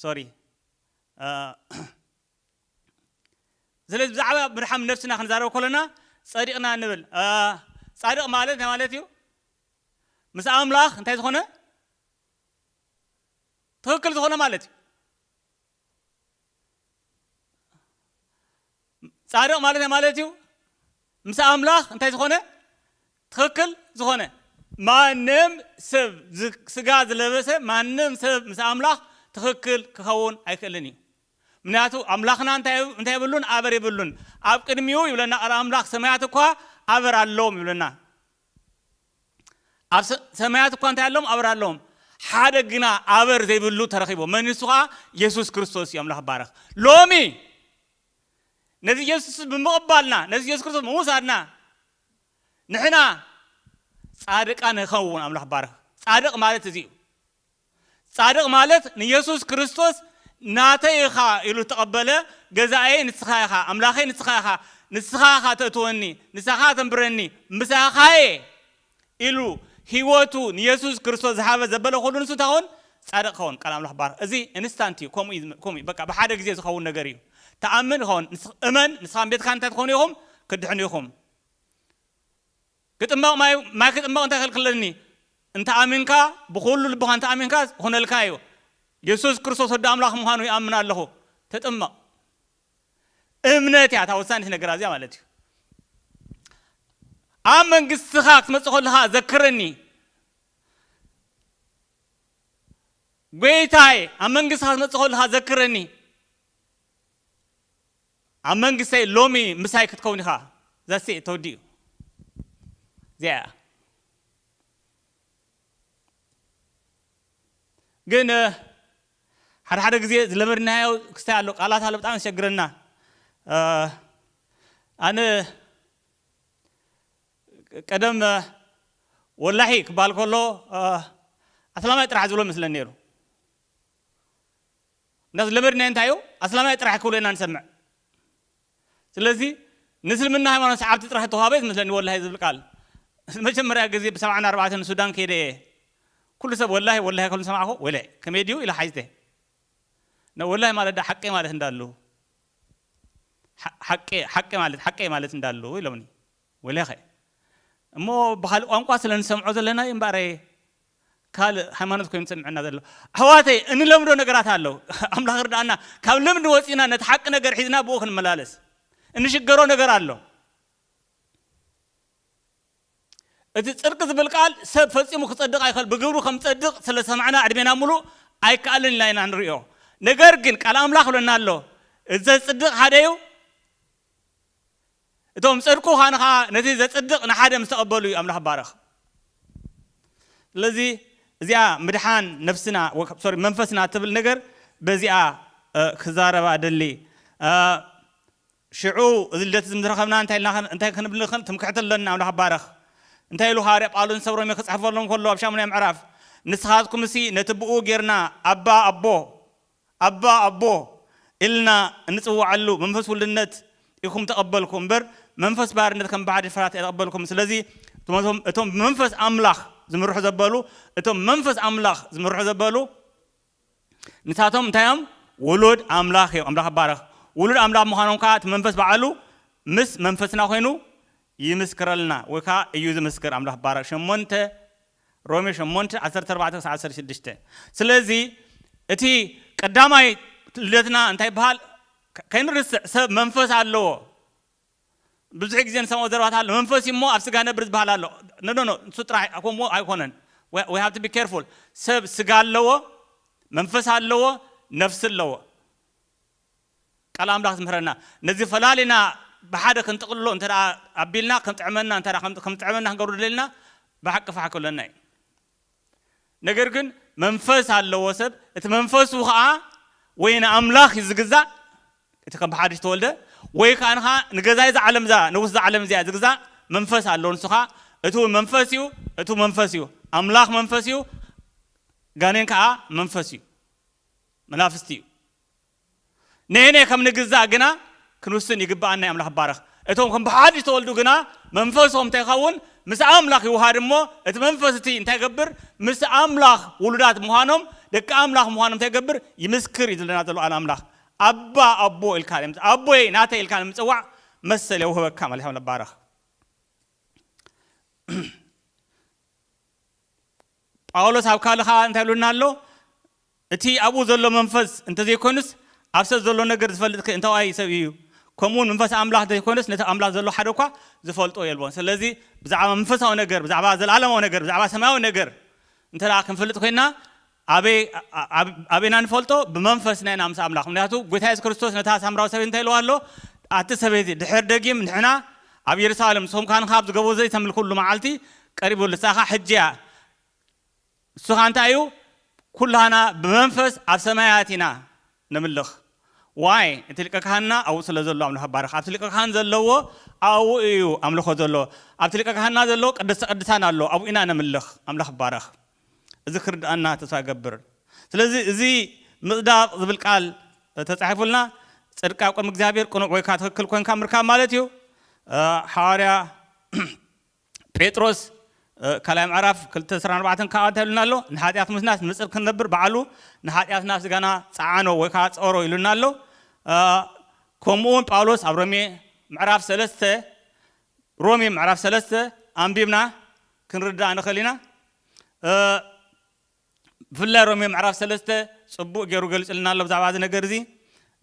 ሶሪ ኣእ ስለዚ ብዛዕባ ምድሓም ነብስና ክንዛረብ ከሎና ጸዲቅና ንብል ኣእ ጻድቅ ማለት እንታይ ማለት እዩ ምስ ኣምላኽ እንታይ ዝኾነ ትኽክል ዝኾነ ማለት እዩ ጻድቕ ማለት ማለት እዩ ምስ ኣምላኽ እንታይ ዝኾነ ትኽክል ዝኾነ። ማንም ሰብ ስጋ ዝለበሰ ማንም ሰብ ምስ ኣምላኽ ትኽክል ክኸውን ኣይክእልን እዩ ምንያቱ ኣምላኽና እንታይ የብሉን ኣበር የብሉን ኣብ ቅድሚኡ ይብለና ቃል ኣምላኽ ሰማያት እኳ ኣበር ኣለዎም ይብለና ኣብ ሰማያት እኳ እንታይ ኣለዎም ኣበር ኣለዎም ሓደ ግና ኣበር ዘይብሉ ተረኺቦ መን ንሱ ከዓ የሱስ ክርስቶስ እዩ ኣምላኽ ባረኽ ሎሚ ነዚ ኢየሱስ ብምቕባልና ነዚ ኢየሱስ ክርስቶስ ብምውሳድና ንሕና ጻድቃን ንኸውን ኣምላኽ ባርኽ ጻድቕ ማለት እዚ እዩ ጻድቕ ማለት ንኢየሱስ ክርስቶስ ናተይ ኢኻ ኢሉ ተቐበለ ገዛኣየይ ንስኻ ኢኻ ኣምላኸይ ንስኻ ኢኻ ንስኻ ኢኻ ተእትወኒ ንስኻ ተንብረኒ ምሳኻየ ኢሉ ሂወቱ ንየሱስ ክርስቶስ ዝሃበ ዘበለ ኩሉ ንሱ እንታይ ክኸውን ጻድቅ ክኸውን ቃል ኣምላኽ ባርኽ እዚ እንስታንት እዩ ከምኡ እዩ ከምኡ እዩ በቃ ብሓደ ግዜ ዝኸውን ነገር እዩ ትኣምን ይኸውን እመን ንስኻን ቤትካን እንታይ ትኾኑ ኢኹም ክትድሕኑ ኢኹም ክጥመቕ ማይ ማይ ክጥመቕ እንታይ ከልክለኒ እንተኣሚንካ ብኹሉ ልብኻ እንተኣሚንካ ክኾነልካ እዩ የሱስ ክርስቶስ ወዲ ኣምላኽ ምዃኑ ይኣምን ኣለኹ ተጥመቕ እምነት እያ እታ ወሳኒት ነገር ኣዚኣ ማለት እዩ ኣብ መንግስትኻ ክትመፅእ ከለኻ ዘክረኒ ጎይታይ ኣብ መንግስትኻ ክትመፅእ ከለኻ ዘክረኒ ኣብ መንግስተይ ሎሚ ምሳይ ክትከውን ኢኻ ዘሴ ተወዲኡ እዚኣ እያ ግን ሓደ ሓደ ግዜ ዝለመድናዮ ክስታይ ኣሎ ቃላት ኣሎ ብጣዕሚ ዘሸግረና ኣነ ቀደም ወላሒ ክበሃል ከሎ ኣስላማይ ጥራሕ ዝብሎ መስለን ነይሩ እና ዝለመድናዮ እንታይ እዩ ኣስላማይ ጥራሕ ክብሎ ኢና ንሰምዕ ስለዚ ንእስልምና ሃይማኖት ሰዓብቲ ጥራሕ ዝተዋህበ እዩ ዝመስለኒ ወላሂ እዚ ዝብል ቃል ንመጀመርያ ግዜ ብ ሰብዓን ኣርባዕተን ሱዳን ከይደ እየ ኩሉ ሰብ ወላሂ ወላሂ ክብል ሰማዕኩ ወለ ከመይ ድዩ ኢለ ሓቲተ ን ወላሂ ማለት ድኣ ሓቂ ማለት እንዳሉ ሓቂ ሓቂ ማለት ሓቂ ማለት እንዳሉ ኢሎምኒ ወለኸ እሞ ብኻልእ ቋንቋ ስለ ንሰምዖ ዘለና እዩ እምበኣረይ ካልእ ሃይማኖት ኮይኑ ዝሰምዐና ዘሎ ኣሕዋተይ እንለምዶ ነገራት ኣሎ ኣምላኽ ይርዳኣና ካብ ልምዲ ወጺእና ነቲ ሓቂ ነገር ሒዝና ብኡ ክንመላለስ እንሽገሮ ነገር ኣሎ እቲ ጽድቂ ዝብል ቃል ሰብ ፈጺሙ ክጸድቕ ኣይኸል ብግብሩ ከም ጸድቕ ስለ ሰማዕና ዕድሜና ምሉእ ኣይከኣልን ኢልና ኢና ንሪኦ ነገር ግን ቃል ኣምላኽ ብለና ኣሎ እዚ ዘጽድቕ ሓደ እዩ እቶም ጸድቁ ኻን ኸኣ ነቲ ዘጽድቅ ንሓደ ምስ ተቀበሉ እዩ ኣምላኽ ባረኽ ስለዚ እዚኣ ምድሓን ነፍስና ሶሪ መንፈስና ትብል ነገር በዚኣ ክዛረባ እደሊ ሽዑ እዚ ልደት እዚ ምዝረኸብና እንታይ ኢልና እንታይ ክንብል ንኽእል ትምክሕቲ ኣለና ኣምላኽ ባረኽ እንታይ ኢሉ ሃዋርያ ጳውሎስ ንሰብ ሮሜ ክጽሕፈሎም ከሎ ኣብ ሻሙናይ ምዕራፍ ንስኻትኩምሲ ነቲ ብኡ ጌርና ኣባ ኣቦ ኣባ ኣቦ ኢልና እንጽውዓሉ መንፈስ ውልድነት ኢኩም ተቀበልኩ እምበር መንፈስ ባርነት ከም ባዕዲ ፍራት ኣይተቀበልኩምን ስለዚ እቶም ብመንፈስ ኣምላኽ ዝምርሑ ዘበሉ እቶም ብመንፈስ ኣምላኽ ዝምርሑ ዘበሉ ንሳቶም እንታይ እዮም ውሉድ ኣምላኽ እዮም ኣምላኽ ይባረኽ ውሉድ ኣምላኽ ምዃኖም ከኣ እቲ መንፈስ በዓሉ ምስ መንፈስና ኮይኑ ይምስክረልና ወይ ከኣ እዩ ዝምስክር ኣምላኽ ይባረኽ ሸሞንተ ሮሜ ሸሞንተ፣ ዓሰርተ ኣርባዕተ ክሳዕ ዓሰርተ ሽዱሽተ፣ ስለዚ እቲ ቀዳማይ ልደትና እንታይ ይበሃል? ከይንርስዕ ሰብ መንፈስ ኣለዎ ብዙሕ ግዜ ንሰምዖ ዘረባት ኣሎ መንፈስ እሞ ኣብ ስጋ ነብር ዝበሃል ኣሎ ነኖኖ ንሱ ጥራሕ ከምኡ ኣይኮነን we have to be careful ሰብ ስጋ ኣለዎ መንፈስ ኣለዎ ነፍሲ ኣለዎ ቃል ኣምላኽ ዝምህረና ነዚ ፈላሊና ብሓደ ክንጥቕልሎ እንተ ኣቢልና ክጥዕመና እንተ ከምዝጥዕመና ክንገብሮ ደለልና ብሓቂ ፋሕ ክብለና እዩ ነገር ግን መንፈስ ኣለዎ ሰብ እቲ መንፈሱ ከዓ ወይ ንኣምላኽ እዩ ዝግዛእ እቲ ከም ብሓድሽ ተወልደ ወይ ከዓ ንኻ ንገዛይ እዛ ዓለም እዛ ንጉስ እዛ ዓለም እዚኣ ዝግዛእ መንፈስ ኣለዎ ንሱ ከዓ እቲ እውን መንፈስ እዩ እቲ መንፈስ እዩ ኣምላኽ መንፈስ እዩ ጋኔን ከዓ መንፈስ እዩ መናፍስቲ እዩ ነየናይ ከም ንግዛእ ግና ክንውስን ይግብኣና እዩ ኣምላኽ ባረኽ እቶም ከም ብሓድሽ ዝተወልዱ ግና መንፈሶም እንታይ ይኸውን ምስ ኣምላኽ ይውሃድ እሞ እቲ መንፈስ እቲ እንታይ ይገብር ምስ ኣምላኽ ውሉዳት ምዃኖም ደቂ ኣምላኽ ምዃኖም እንታይ ይገብር ይምስክር እዩ ዝብለና ዘሎ ቃል ኣምላኽ ኣባ ኣቦ ኢልካ ኣቦይ ናተይ ኢልካ ንምፅዋዕ መሰል የውህበካ ማለት ኣምላኽ ባረኽ ጳውሎስ ኣብ ካልእ ከኣ እንታይ ኢሉና ኣሎ? እቲ ኣብኡ ዘሎ መንፈስ እንተ ዘይኰኑስ፣ ኣብ ሰብ ዘሎ ነገር ዚፈልጥከ እንታዋይ ሰብ እዩ? ከምኡውን መንፈስ ኣምላኽ እንተ ዘይኰነስ፣ ነቲ ኣብ ኣምላኽ ዘሎ ሓደ እኳ ዚፈልጦ የልቦን። ስለዚ፣ ብዛዕባ መንፈሳዊ ነገር፣ ብዛዕባ ዘለኣለማዊ ነገር፣ ብዛዕባ ሰማያዊ ነገር እንተ ደኣ ክንፈልጥ ዄንና፣ ኣበይ ኣበይ ኢና እንፈልጦ? ብመንፈስና ኢና ምስ ኣምላኽ። ምኽንያቱ፣ ጐይታ የሱስ ክርስቶስ ነታ ሳምራዊት ሰበይቲ እንታይ ኢልዋ ኣሎ? ኣቲ ሰበይቲ፣ ድሕሪ ደጊም ንሕና፣ ኣብ የሩሳሌም ሶምካን ኻብ ዝገቦ ዘይተምልኩሉ መዓልቲ ቀሪቡ ኣሎ ሳኻ ሕጂ እያ እሱ ኻኣ እንታይ እዩ ኩላህና ብመንፈስ ኣብ ሰማያት ኢና ነምልኽ ዋይ እቲ ሊቀ ካህንና ኣብኡ ስለ ዘሎ ኣምልኾ ባርኽ ኣብቲ ሊቀ ካህን ዘለዎ ኣብኡ እዩ ኣምልኾ ዘሎ ኣብቲ ሊቀ ካህንና ዘለዎ ቅድስተ ቅድሳን ኣሎ ኣብኡ ኢና ነምልኽ ኣምላኽ ይባረኽ። እዚ ክርድኣና ተስፋ እገብር ስለዚ እዚ ምጽዳቕ ዝብል ቃል ተጻሒፉልና ጽድቃ ቅድሚ እግዚኣብሔር ቅኑዕ ወይካ ትክክል ኮንካ ምርካብ ማለት እዩ ሓዋርያ ጴጥሮስ ካልኣይ ምዕራፍ ክልተ ዕስራን ኣርባዕተን ከዓ እንታይ ኢሉና ኣሎ ንሓጢኣት ምስናስ ንጽድቂ ክንነብር በዓሉ ንሓጢኣትና ስጋና ጸዓኖ ወይ ከዓ ጸሮ ኢሉና ኣሎ ከምኡውን ጳውሎስ ኣብ ሮሜ ምዕራፍ ሰለስተ ሮሜ ምዕራፍ ሰለስተ ኣንቢብና ክንርዳእ ንኽእል ኢና። ብፍላይ ሮሜ ምዕራፍ ሰለስተ ጽቡቕ ገይሩ ገሊጹልና ኣሎ ብዛዕባ እዚ ነገር እዚ።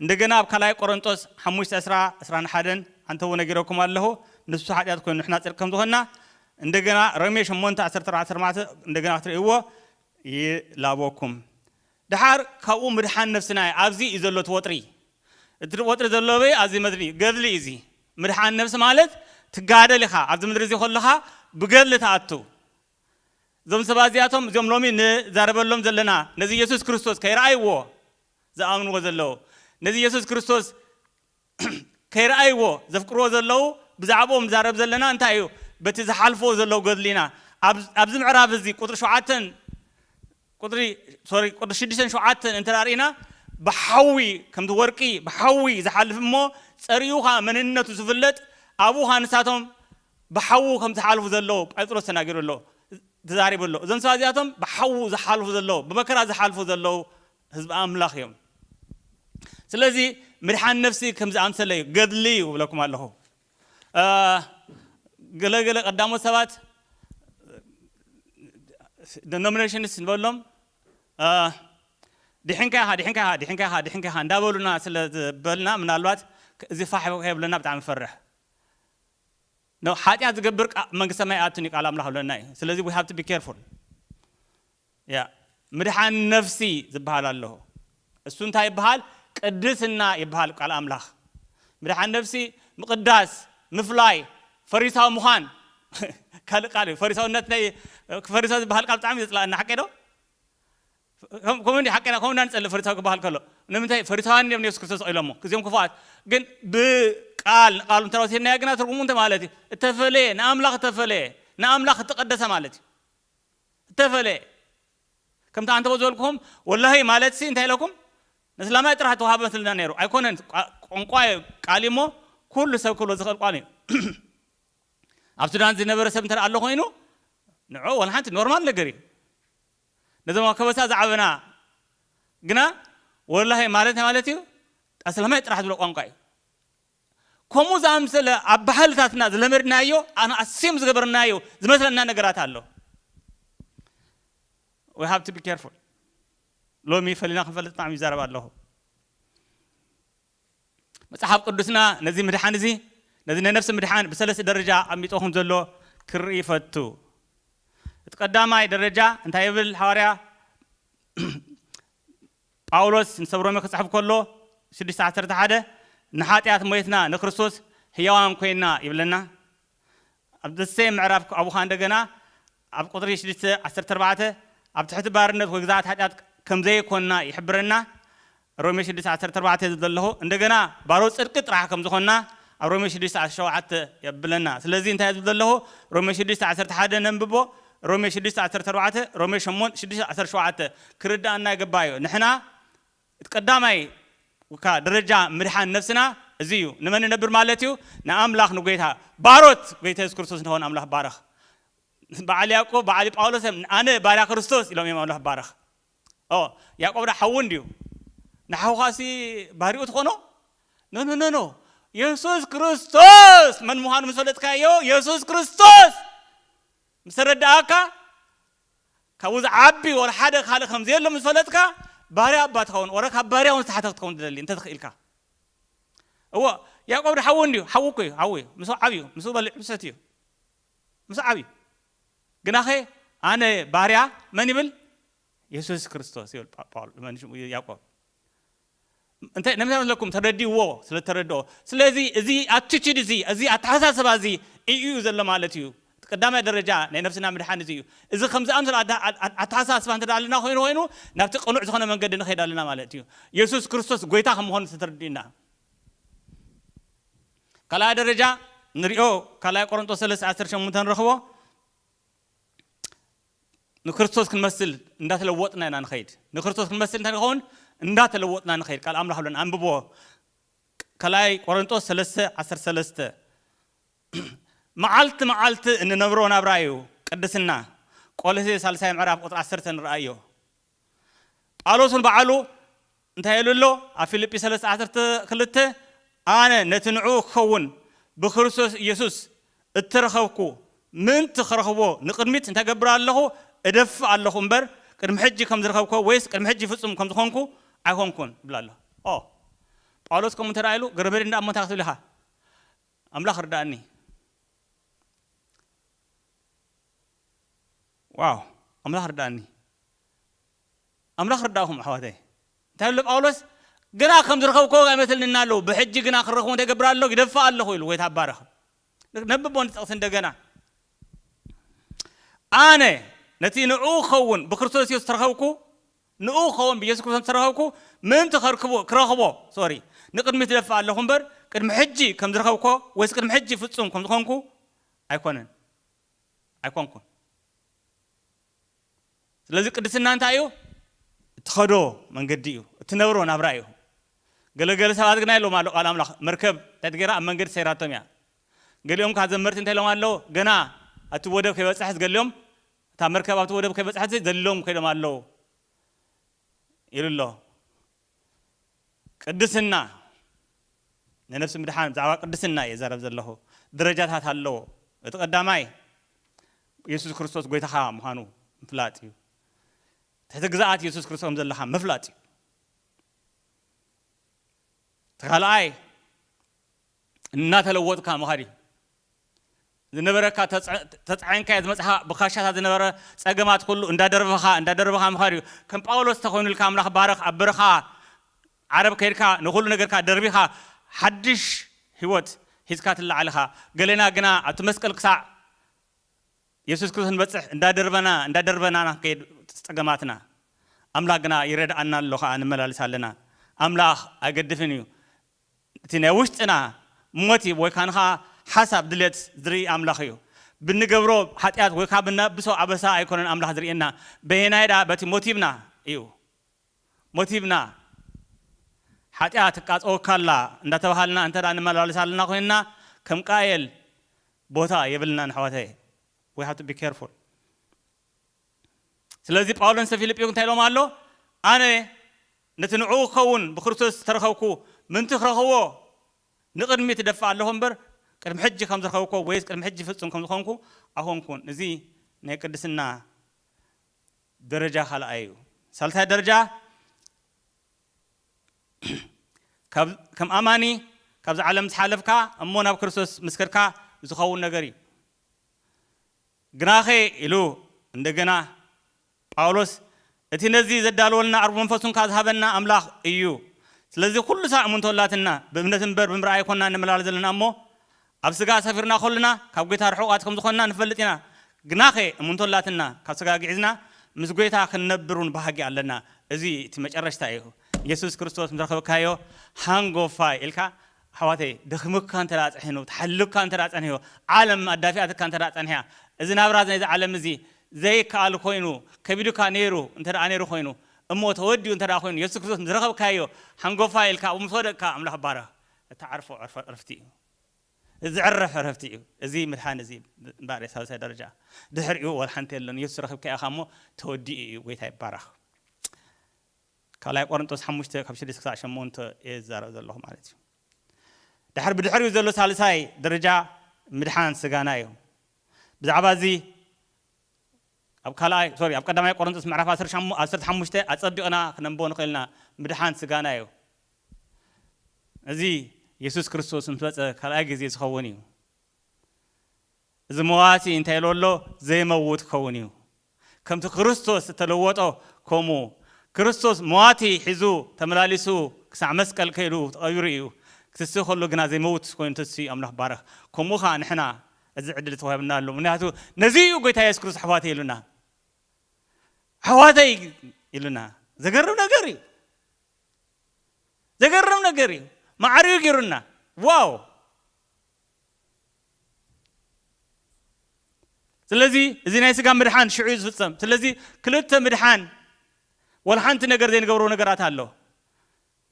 እንደገና ኣብ ካልኣይ ቆሮንጦስ ሓሙሽተ ዕስራ ዕስራን ሓደን ኣንተዎ ነጊረኩም ኣለኹ ንሱ ሓጢኣት ኮይኑ ንሕና ጽድቂ ከም ዝኾንና። እንደገና ሮሜ ሸሞንተ ዓሰርተ ኣርባዕተ ዓሰርተ ኣርባዕተ እንደገና ክትርእይዎ ይላበኩም። ደሓር ካብኡ ምድሓን ነፍስና እያ ኣብዚ እዩ ዘሎ እቲ ወጥሪ እቲ ወጥሪ ዘሎ ኣበይ ኣብዚ መድሪ እዩ ገድሊ እዩ እዚ ምድሓን ነፍሲ ማለት ትጋደል ኢኻ ኣብዚ ምድሪ እዚ ከለኻ ብገድሊ ትኣቱ እዞም ሰባት እዚኣቶም እዚኦም ሎሚ ንዛረበሎም ዘለና ነዚ ኢየሱስ ክርስቶስ ከይረኣይዎ ዝኣምንዎ ዘለዉ ነዚ ኢየሱስ ክርስቶስ ከይረኣይዎ ዘፍቅርዎ ዘለዉ ብዛዕብኦም ንዛረብ ዘለና እንታይ እዩ በቲ ዝሓልፍዎ ዘለዉ ገድሊ ኢና ኣብ ኣብዚ ምዕራፍ እዚ ቁጽሪ ሸውዓተን ቁጽሪ ሶሪ ቁጽሪ ሽዱሽተን ሸውዓተን እንተ ርኢና ብሓዊ ከምቲ ወርቂ ብሓዊ ዝሓልፍ እሞ ጸሪኡ ኸኣ መንነቱ ዝፍለጥ ኣብኡ ኸኣ ንሳቶም ብሓዉ ከም ዝሓልፉ ዘለዉ ጴጥሮስ ተናጊሩ ኣሎ ተዛሪቡ ኣሎ እዞም ሰባት እዚኣቶም ብሓዉ ዝሓልፉ ዘለዉ ብመከራ ዝሓልፉ ዘለዉ ህዝቢ ኣምላኽ እዮም ስለዚ ምድሓን ነፍሲ ከምዚ ኣምሰለ እዩ ገድሊ እዩ እብለኩም ኣለኹ ገለ ገለ ቀዳሞት ሰባት ደኖሚኔሽንስ ንበሎም ድሕንካ ኢኻ ድሕንካ ኢኻ ድሕንካ ኢኻ ድሕንካ ኢኻ እንዳበሉና ስለ ዝበልና ምናልባት እዚ ፋሕ ከይብለና ብጣዕሚ ፈርሕ ሓጢኣት ዝገብር መንግስቲ ሰማይ ኣትን እዩ ቃል ኣምላኽ ብለና እዩ ስለዚ ዊ ሃብ ቢ ኬርፉል ያእ ምድሓን ነፍሲ ዝብሃል ኣሎሆ እሱ እንታይ ይብሃል ቅድስና ይብሃል ቃል ኣምላኽ ምድሓን ነፍሲ ምቅዳስ ምፍላይ ፈሪሳዊ ምዃን ካልእ ቃል እዩ ፈሪሳውነት ናይ ፈሪሳዊ ዝብሃል ቃል ብጣዕሚ ዘጽላኣኒ ሓቀይ ዶ ከምኡ እንዲ ሓቀና ከምኡ እንዳንጸልእ ፈሪሳዊ ክብሃል ከሎ ንምንታይ ፈሪሳውያን እዮም ንየሱስ ክርስቶስ ቐይሎሞ እዚኦም ክፉኣት ግን ብቃል ንቃሉ እንተወሲድናዮ ግና ትርጉሙ እንታይ ማለት እዩ እተፈለየ ንኣምላኽ እተፈለየ ንኣምላኽ እተቀደሰ ማለት እዩ እተፈለየ ከምቲ ኣንተቦ ዝበልኩኹም ወላሂ ማለትሲ እንታይ ኢለኩም ነስላማይ ጥራሕ ተዋህቦ መስልና ነይሩ ኣይኮነን ቋንቋ እዩ ቃል እዩሞ ኩሉ ሰብ ክብሎ ዝኽእል ቋል እዩ ኣብ ሱዳን ዝነበረ ሰብ እንተ ኣሎ ኮይኑ ንዑ ወላሓንቲ ኖርማል ነገር እዩ ነዞም ኣብ ከበሳ ዝዓበና ግና ወላሂ ማለት ናይ ማለት እዩ ኣስላማይ ጥራሕ ዝብሎ ቋንቋ እዩ ከምኡ ዝኣምሰለ ኣብ ባህልታትና ዝለመድናዮ ኣነ ኣስዮም ዝገበርናዮ ዝመስለና ነገራት ኣሎ we have to be careful ሎሚ ፈሊና ክንፈልጥ ብጣዕሚ ይዛረብ ኣለኹ መጽሓፍ ቅዱስና ነዚ ምድሓን እዚ ነዚ ናይ ነፍሲ ምድሓን ብሰለስተ ደረጃ ኣሚጦ ከም ዘሎ ክርኢ ይፈቱ እቲ ቀዳማይ ደረጃ እንታይ ይብል ሓዋርያ ጳውሎስ ምስ ሰብ ሮሜ ክጽሕፍ ከሎ ሽዱሽተ ዓሰርተ ሓደ ንሓጥያት ሞይትና ንክርስቶስ ህያዋን ኮይንና ይብለና። ኣብ the same ምዕራፍ ኣብኡ ከኣ እንደገና ኣብ ቁጽሪ ሽዱሽተ ዓሰርተ ኣርባዕተ ኣብ ትሕቲ ባርነት ወይ ግዝኣት ሓጢኣት ከምዘይኮንና ይሕብረና። ሮሜ ሽዱሽተ ዓሰርተ ኣርባዕተ ዝብል ዘለኹ እንደገና ባሮት ጽድቂ ጥራሕ ከምዝኾንና ኣብ ሮሜ ሽዱሽተ ዓሰርተ ሸውዓተ የብለና። ስለዚ እንታይ ዝብል ዘለኹ ሮሜ ሽዱሽተ ዓሰርተ ሓደ ነንብቦ ሮሜ ሽዱሽተ ዓሰርተ ኣርባዕተ፣ ሮሜ ሸሞን ሽዱሽተ ዓሰርተ ሸውዓተ፣ ክርድኣና ይግባእ እዩ። ንሕና እቲ ቀዳማይ እካ ደረጃ ምድሓን ነፍስና እዚ እዩ። ንመን ንነብር ማለት እዩ? ንኣምላኽ ንጎይታ። ባሮት ጎይታ የሱስ ክርስቶስ ንኸውን ኣምላኽ ባርኽ። በዓል ያእቆብ በዓል ጳውሎስ እዮም ኣነ ባርያ ክርስቶስ ኢሎም እዮም ኣምላኽ ባርኽ። ኦ ያእቆብ ዳ ሓዉ እንድዩ። ንሓውኻሲ ባርኡ ትኾኖ? ኖኖ ኖኖ የሱስ ክርስቶስ መን ምዃኑ ምስ ፈለጥካዮ የሱስ ክርስቶስ ምስተረደኣካ፣ ካብኡ ዝዓቢ ወረ ሓደ ካልእ ከም ዘየሎ ምስ ፈለጥካ፣ ባርያ እባ ትኸውን፣ ወረ ካብ ባርያ እውን ዝተሓተ ክትከውን ትደሊ እንተ ተኽኢልካ። እወ፣ ያእቆብ ዶ ሓዉ እንድዩ፣ ሓዉ እኮ እዩ፣ ሓዉ እዩ፣ ምስኡ ዓብዩ፣ ምስኡ በሊዑ ሰትዩ፣ ምስኡ ዓብዩ። ግናኸ ኣነ ባርያ መን ይብል? የሱስ ክርስቶስ ይብል ጳውል፣ መን ሽሙ? ያእቆብ። እንታይ ንምንታይ መስለኩም ተረዲእዎ ስለ እተረድኦ ስለዚ እዚ ኣቲቱድ እዚ እዚ ኣተሓሳስባ እዚ ኢዩ ኢዩ ዘሎ ማለት ኢዩ እቲ ቀዳማይ ደረጃ ናይ ነብስና ምድሓን እዚ ኢዩ እዚ ከምዚ ዝኣምሰለ ኣተሓሳስባ እንተ ኣልና ኮይኑ ኮይኑ ናብቲ ቅኑዕ ዝኮነ መንገዲ ንከይድ ኣለና ማለት ኢዩ የሱስ ክርስቶስ ጎይታ ከም ምኮኑ ተተረዲእና ካልኣይ ደረጃ ንሪኦ ካልኣይ ቆሮንጦስ ሰለስተ ዓሰርተ ሸሞንተ ንረክቦ ንክርስቶስ ክንመስል እንዳተለወጥና ኢና ንኸይድ ንክርስቶስ ክንመስል እንታይ ንኸውን እንዳተለወጥና ንኸይድ ቃል ኣምላኽ ብለን ኣንብቦ ካልኣይ ቆረንጦስ ሰለስተ ዓሰርተ ሰለስተ መዓልቲ መዓልቲ እንነብሮ ናብራ እዩ ቅድስና ቆሎሴ ሳልሳይ ምዕራፍ ቁፅሪ ዓሰርተ ንርኣዮ ጳውሎስ እውን ባዕሉ እንታይ ኢሉ ኣሎ ኣብ ፊልጲ ሰለስተ ዓሰርተ ክልተ ኣነ ነቲ ንዕኡ ክኸውን ብክርስቶስ ኢየሱስ እተረኸብኩ ምእንቲ ክረኽቦ ንቕድሚት እንታይ እገብር ኣለኹ እደፍእ ኣለኹ እምበር ቅድሚ ሕጂ ከም ዝረኸብኩዎ ወይስ ቅድሚ ሕጂ ፍጹም ከም ዝኾንኩ ኣይኮንኩን ይብል ኣሎ ኦ ጳውሎስ ከምኡ እንተ ኢሉ ገረበሪ እንዳ እሞ እንታይ ክትብል ኢኻ ኣምላኽ ርዳእኒ ዋው ኣምላኽ ርዳኣኒ ኣምላኽ ርዳእኹም ኣሕዋተይ እንታይ ኣሎ ጳውሎስ ግና ከም ዝረኸብክዎ ኣይመስልንና ኣለዉ ብሕጂ ግና ክረኽቡ እንታይ ገብር ኣለኹ ይደፍእ ኣለኹ ኢሉ ጎይታ ባረኽ ነብቦ ንጥቕሲ እንደገና ኣነ ነቲ ንኡ ክኸውን ብክርስቶስ ኢየሱስ ተረኸብኩ ንኡ ክኸውን ብኢየሱስ ክርስቶስ ተረኸብኩ ምእንቲ ከርክቦ ክረኽቦ ሶሪ ንቅድሚት ደፋ ኣለኹ እምበር ቅድሚ ሕጂ ከም ዝረኸብኮ ወይስ ቅድሚ ሕጂ ፍጹም ከም ዝኾንኩ ኣይኮነን ኣይኮንኩን። ስለዚ ቅድስና እንታይ እዩ? እትኸዶ መንገዲ እዩ፣ እትነብሮ ናብራ እዩ። ገለ ገለ ሰባት ግና ኢሎም ኣሎ ቃል ኣምላኽ መርከብ እንታይ ትገይራ ኣብ መንገዲ ሰይራቶም እያ። ገሊኦም ከኣ ዘመርቲ እንታይ ኢሎም ኣለዉ ገና ኣብቲ ወደብ ከይበጽሐት ገሊኦም እታ መርከብ ኣብቲ ወደብ ከይበጽሐት ዘሊሎም ከይዶም ኣለዉ ኢሉ ኣሎ። ቅድስና ንነፍሲ ምድሓን ብዛዕባ ቅድስና እየ ዝዛረብ ዘለኹ ደረጃታት ኣለዎ እቲ ቀዳማይ የሱስ ክርስቶስ ጎይታኻ ምዃኑ ምፍላጥ እዩ ትሕቲ ግዝኣት የሱስ ክርስቶስ ከም ዘለኻ ምፍላጥ እዩ እቲ ካልኣይ እናተለወጥካ ምኻድ እዩ ዝነበረካ ተጻዒንካዮ ዝመጻኻ ብካሻታት ዝነበረ ጸገማት ኩሉ እንዳ ደርበኻ እንዳ ደርበኻ ምኻድ እዩ ከም ጳውሎስ ተኾይኑልካ ኣምላኽ ባርኽ ኣብ በረኻ ዓረብ ከይድካ ንኹሉ ነገርካ ደርቢኻ ሓድሽ ሕይወት ሒዝካ ትለዓል ኢኻ ገሌና ግና ኣብቲ መስቀል ክሳዕ የሱስ ክርስቶስ ንበጽሕ እንዳ ደርበና እንዳ ደርበና ኢና ክንከይድ ጸገማትና ኣምላኽ ግና ይረድኣና ኣሎ ከኣ ንመላለስ ኣለና ኣምላኽ ኣይገድፍን እዩ እቲ ናይ ውሽጥና ሞቲቭ ወይ ከኣ ሓሳብ ድሌት ዝርኢ ኣምላኽ እዩ። ብንገብሮ ሓጢኣት ወይ ከኣ ብነኣብሶ ኣበሳ ኣይኮነን ኣምላኽ ዝርእየና። በየናይ ደኣ በቲ ሞቲቭና እዩ። ሞቲቭና ሓጢኣት ትቃጸወካ ኣላ እንዳተባሃልና እንተ ንመላለስ ኣለና ኮይንና ከም ቃየል ቦታ የብልናን ኣሕዋተየ። We have to be careful። ስለዚ ጳውሎስ ንሰብ ፊልጵዩ እንታይ ኢሎም ኣሎ? ኣነ ነቲ ንዕኡ ክኸውን ብክርስቶስ ዝተረኸብኩ ምእንቲ ክረኽቦ ንቕድሚት እደፍእ ኣለኹ እምበር፣ ቅድሚ ሕጂ ከም ዝረኸብኩዎ ወይስ ቅድሚ ሕጂ ፍጹም ከም ዝኾንኩ ኣይኮንኩን። እዚ ናይ ቅድስና ደረጃ ካልኣይ እዩ። ሳልሳይ ደረጃ ከም ኣማኒ ካብዚ ዓለም ምስ ሓለፍካ እሞ ናብ ክርስቶስ ምስ ከድካ ዝኸውን ነገር እዩ። ግናኸ ኢሉ እንደገና ጳውሎስ፣ እቲ ነዚ ዘዳለወልና ኣርብ መንፈሱን ከኣ ዝሃበና ኣምላኽ እዩ። ስለዚ ኩሉ ሳዕ እሙንቶ ኣላትና፣ ብእምነት እምበር ብምርኣይ ኣይኮንናን ንመላለስ ዘለና እሞ፣ ኣብ ስጋ ሰፊርና ከሉና ካብ ጎይታ ርሑቓት ከም ዝኾንና ንፈልጥ ኢና። ግናኸ እሙንቶ ኣላትና፣ ካብ ስጋ ግዒዝና ምስ ጎይታ ክንነብር እውን ባህጊ ኣለና። እዚ እቲ መጨረሽታ እዩ። የሱስ ክርስቶስ ምስ ረኸብካዮ ሃንጎፋይ ኢልካ ኣሕዋተይ ደኺሙካ እንተ ጸሒኑ ተሓሊሉካ እንተ ጸኒሑ ዓለም ኣዳፊኣትካ እንተ ጸኒሓ እዚ ናብራ ናይዚ ዓለም እዚ ዘይከኣል ኮይኑ ከቢዱካ ነይሩ እንተ ነይሩ ኮይኑ እሞ ተወዲኡ እንተ ኮይኑ የሱስ ክርስቶስ ምስ ረኸብካዮ ሓንጎፋይ ኢልካ ኣብኡ ምስ ወደቅካ ኣምላኽ ባረኽ እትዓርፎ ዕረፍቲ እዩ እዚ ዝዕረፍ ዕረፍቲ እዩ እዚ ምድሓን እዚ እምበኣር ሳልሳይ ደረጃ ድሕሪኡ ወላ ሓንቲ የለን የሱስ ረኺብካዮ ኢኻ እሞ ተወዲኡ እዩ ጎይታ ይባረኽ ካልኣይ ቆረንጦስ ሓሙሽተ ካብ ሽዱሽተ ክሳዕ ሸሞንተ እየ ዝዛረብ ዘለኹ ማለት እዩ። ድሕሪ ብድሕሪኡ ዘሎ ሳልሳይ ደረጃ ምድሓን ስጋና እዩ። ብዛዕባ እዚ ኣብ ካልኣይ ሶሪ ኣብ ቀዳማይ ቆረንጦስ ምዕራፍ ዓሰርተ ሓሙሽተ ኣጸቢቕና ክነንቦ ንኽእል ኢና ምድሓን ስጋና እዩ። እዚ የሱስ ክርስቶስ ምስ መጸ ካልኣይ ግዜ ዝኸውን እዩ። እዚ መዋቲ እንተ ኢሉ ኣሎ ዘይመውት ክኸውን እዩ። ከምቲ ክርስቶስ እተለወጦ ከምኡ ክርስቶስ መዋቲ ሒዙ ተመላሊሱ ክሳዕ መስቀል ከይዱ ተቐቢሩ እዩ። ክትስእ ከሎ ግና ዘይመውት ኮይኑ ተሲኡ እዩ። ኣምላኽ ይባረኽ። ከምኡ ከኣ ንሕና እዚ ዕድል ተዋሂቡና ኣሎ። ምክንያቱ ነዚ እዩ ጎይታ የሱስ ክርስቶስ ኣሕዋተይ ኢሉና። ኣሕዋተይ ኢሉና። ዘገርም ነገር እዩ። ዘገርም ነገር እዩ። ማዕሪኡ ገይሩና። ዋው! ስለዚ እዚ ናይ ስጋ ምድሓን ሽዑ እዩ ዝፍጸም። ስለዚ ክልተ ምድሓን ወላ ሓንቲ ነገር ዘይንገብሮ ነገራት ኣሎ።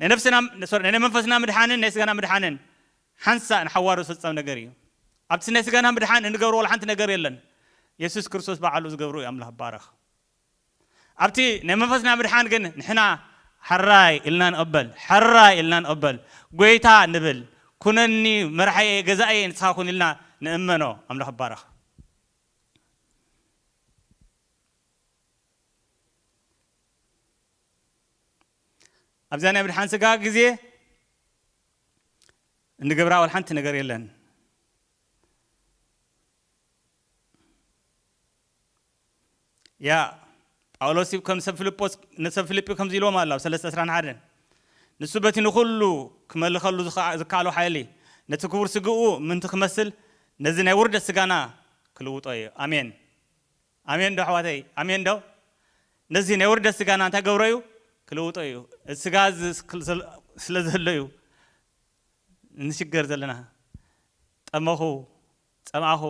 ናይ ነፍስና ሶሪ ናይ መንፈስና ምድሓንን ናይ ስጋና ምድሓንን ሓንሳእ ንሓዋሩ ዝፍጸም ነገር እዩ። ኣብቲ ናይ ስጋና ምድሓን እንገብሮ ወላ ሓንቲ ነገር የለን። የሱስ ክርስቶስ ባዕሉ ዝገብሮ እዩ ኣምላኽ ባረኽ። ኣብቲ ናይ መንፈስና ምድሓን ግን ንሕና ሐራይ ኢልና ንቕበል ሐራይ ኢልና ንቕበል ጎይታ ንብል ኩነኒ መራሕየይ ገዛእየይ ንስኻ ኩን ኢልና ንእመኖ ኣምላኽ ይባረኽ። ኣብዛ ናይ ምድሓን ስጋ ግዜ እንገብራ ወላ ሓንቲ ነገር የለን። እያ። ጳውሎስ ከም ሰብ ፍልጶስ ንሰብ ፍልጲ ከምዚ ኢልዎም ኣሎ ኣብ ሰለስተ ዕስራን ሓደን ንሱ በቲ ንኹሉ ክመልኸሉ ዝከኣሎ ሓይሊ ነቲ ክቡር ስግኡ ምእንቲ ክመስል ነዚ ናይ ውርደት ስጋና ክልውጦ እዩ። ኣሜን ኣሜን ዶ ኣሕዋተይ ኣሜን ዶ ነዚ ናይ ውርደት ስጋና እንታይ ገብሮ እዩ ክልውጦ እዩ እዚ ስጋ እዚ ስለ ዘሎ እዩ ንሽገር ዘለና ጠመኹ ጸምኣኹ፣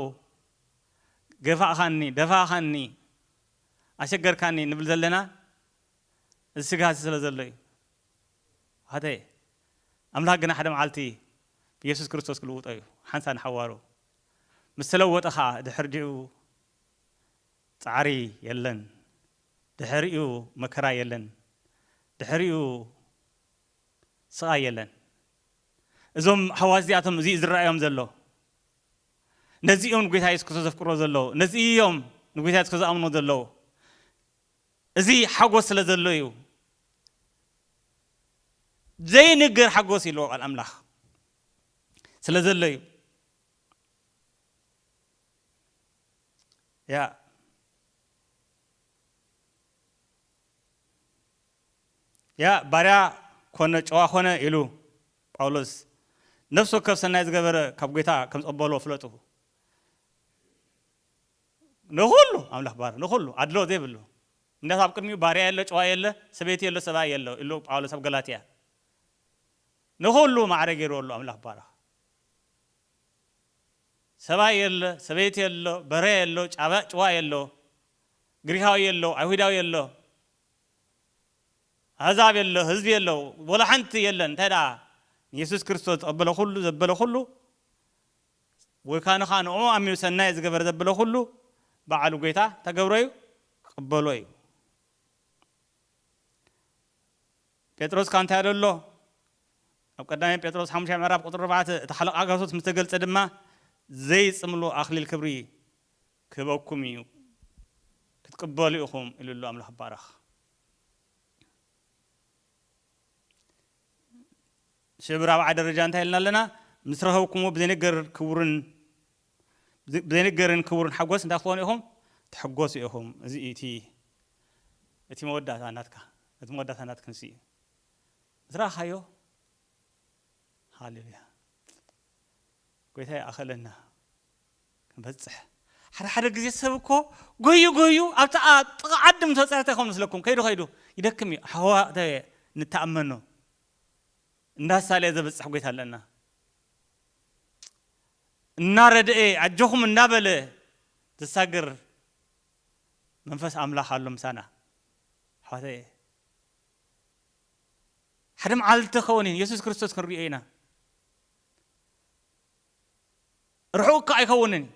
ገፋእካኒ፣ ደፋእካኒ፣ ኣሸገርካኒ ንብል ዘለና እዚ ስግሃትዚ ስለ ዘሎ እዩ። ውሓተየ ኣምላኽ ግና ሓደ መዓልቲ ብየሱስ ክርስቶስ ክልውጦ እዩ፣ ሓንሳእ ንሓዋሩ ምስ ተለወጠ ከኣ ድሕርዲኡ ጻዕሪ የለን፣ ድሕሪኡ መከራ የለን፣ ድሕሪኡ ስቓይ የለን። እዞም ኣሕዋት እዚኣቶም እዚ እዩ ዝረኣዮም ዘሎ። ነዚ እዮም ንጎይታ የሱስ ክርስቶስ ዘፍቅርዎ ዘለዉ። ነዚ እዮም ንጎይታ የሱስ ክርስቶስ ዝኣምንዎ ዘለዉ። እዚ ሓጎስ ስለ ዘሎ እዩ። ዘይንገር ሓጎስ እዩ ኣለዎ ቃል ኣምላኽ ስለ ዘሎ እዩ። ያ ያእ ባርያ ኮነ ጨዋ ኮነ ኢሉ ጳውሎስ ነፍሲ ወከፍ ሰናይ ዝገበረ ካብ ጐይታ ከም ዝቕበሎ ፍለጡ። ንኹሉ ኣምላኽ ባር ንኹሉ ኣድሎ ዘይብሉ ምክንያቱ ኣብ ቅድሚኡ ባርያ የለ ጨዋ የለ ሰበይቲ የሎ ሰብኣይ የለ ኢሉ ጳውሎስ ኣብ ገላትያ ንኹሉ ማዕረ ገይርዎ ኣሎ ኣምላኽ ባረኽ ሰብኣይ የለ ሰበይቲ የሎ በረ የሎ ጨዋ የሎ ግሪኻዊ የሎ፣ ኣይሁዳዊ የሎ፣ ኣህዛብ የሎ፣ ህዝቢ የሎ፣ ወላ ሓንቲ የለን። እንታይ ደኣ ንየሱስ ክርስቶስ ዝቐበለ ኩሉ፣ ዘበለ ኩሉ፣ ወይ ካን ኸኣ ንእኡ ኣሚኑ ሰናይ ዝገበረ ዘበለ ኩሉ፣ በዓሉ ጎይታ እንታይ ክገብሮ እዩ? ክቕበሎ እዩ። ጴጥሮስ ከኣ እንታይ ኢሉ ኣሎ? ኣብ ቀዳማይ ጴጥሮስ ሓሙሻይ ምዕራፍ ቁጽሪ ኣርባዕተ እቲ ሓለቓ ክርስቶስ ምስ ተገልጸ ድማ ዘይጽምሉ ኣኽሊል ክብሪ ክህበኩም እዩ ክትቅበሉ ኢኹም ኢሉ ኣሎ ኣምላኽ ይባረኽ። እሺ እብ ራብዓይ ደረጃ እንታይ ኢልና ኣለና ምስ ረኸብኩምዎ ብዘይንገር ክቡርን ብዘይንገርን ክቡርን ሓጎስ እንታይ ክትኾኑ ኢኹም ትሕጎሱ ኢኹም እዚ እዩ እቲ እቲ መወዳእታ ናትካ እቲ መወዳእታ ናትክን እሱ እዩ ምስ ረኻዮ ሃሌሉያ ጎይታ ይኣኸለና ክንበጽሕ ሓደ ሓደ ግዜ ሰብ እኮ ጎዩ ጎዩ ኣብቲ ኣብ ጥቓ ዓዲ ምስ በጸሐ እንታይ ይኸውን መስለኩም ከይዱ ከይዱ ይደክም እዩ ሓዋ እንታይ እየ ንተኣመኖ እንዳሳለየ ዘብጽሕ ጎይታ ኣለና እናረደኤ ኣጆኹም እንዳበለ ዘሳግር መንፈስ ኣምላኽ ኣሎ ምሳና ኣሕዋተየ ሓደ መዓልቲ ከውን ኢየሱስ ክርስቶስ ክንሪኦ ኢና ርሑቕ እኳ ኣይከውንን እዩ።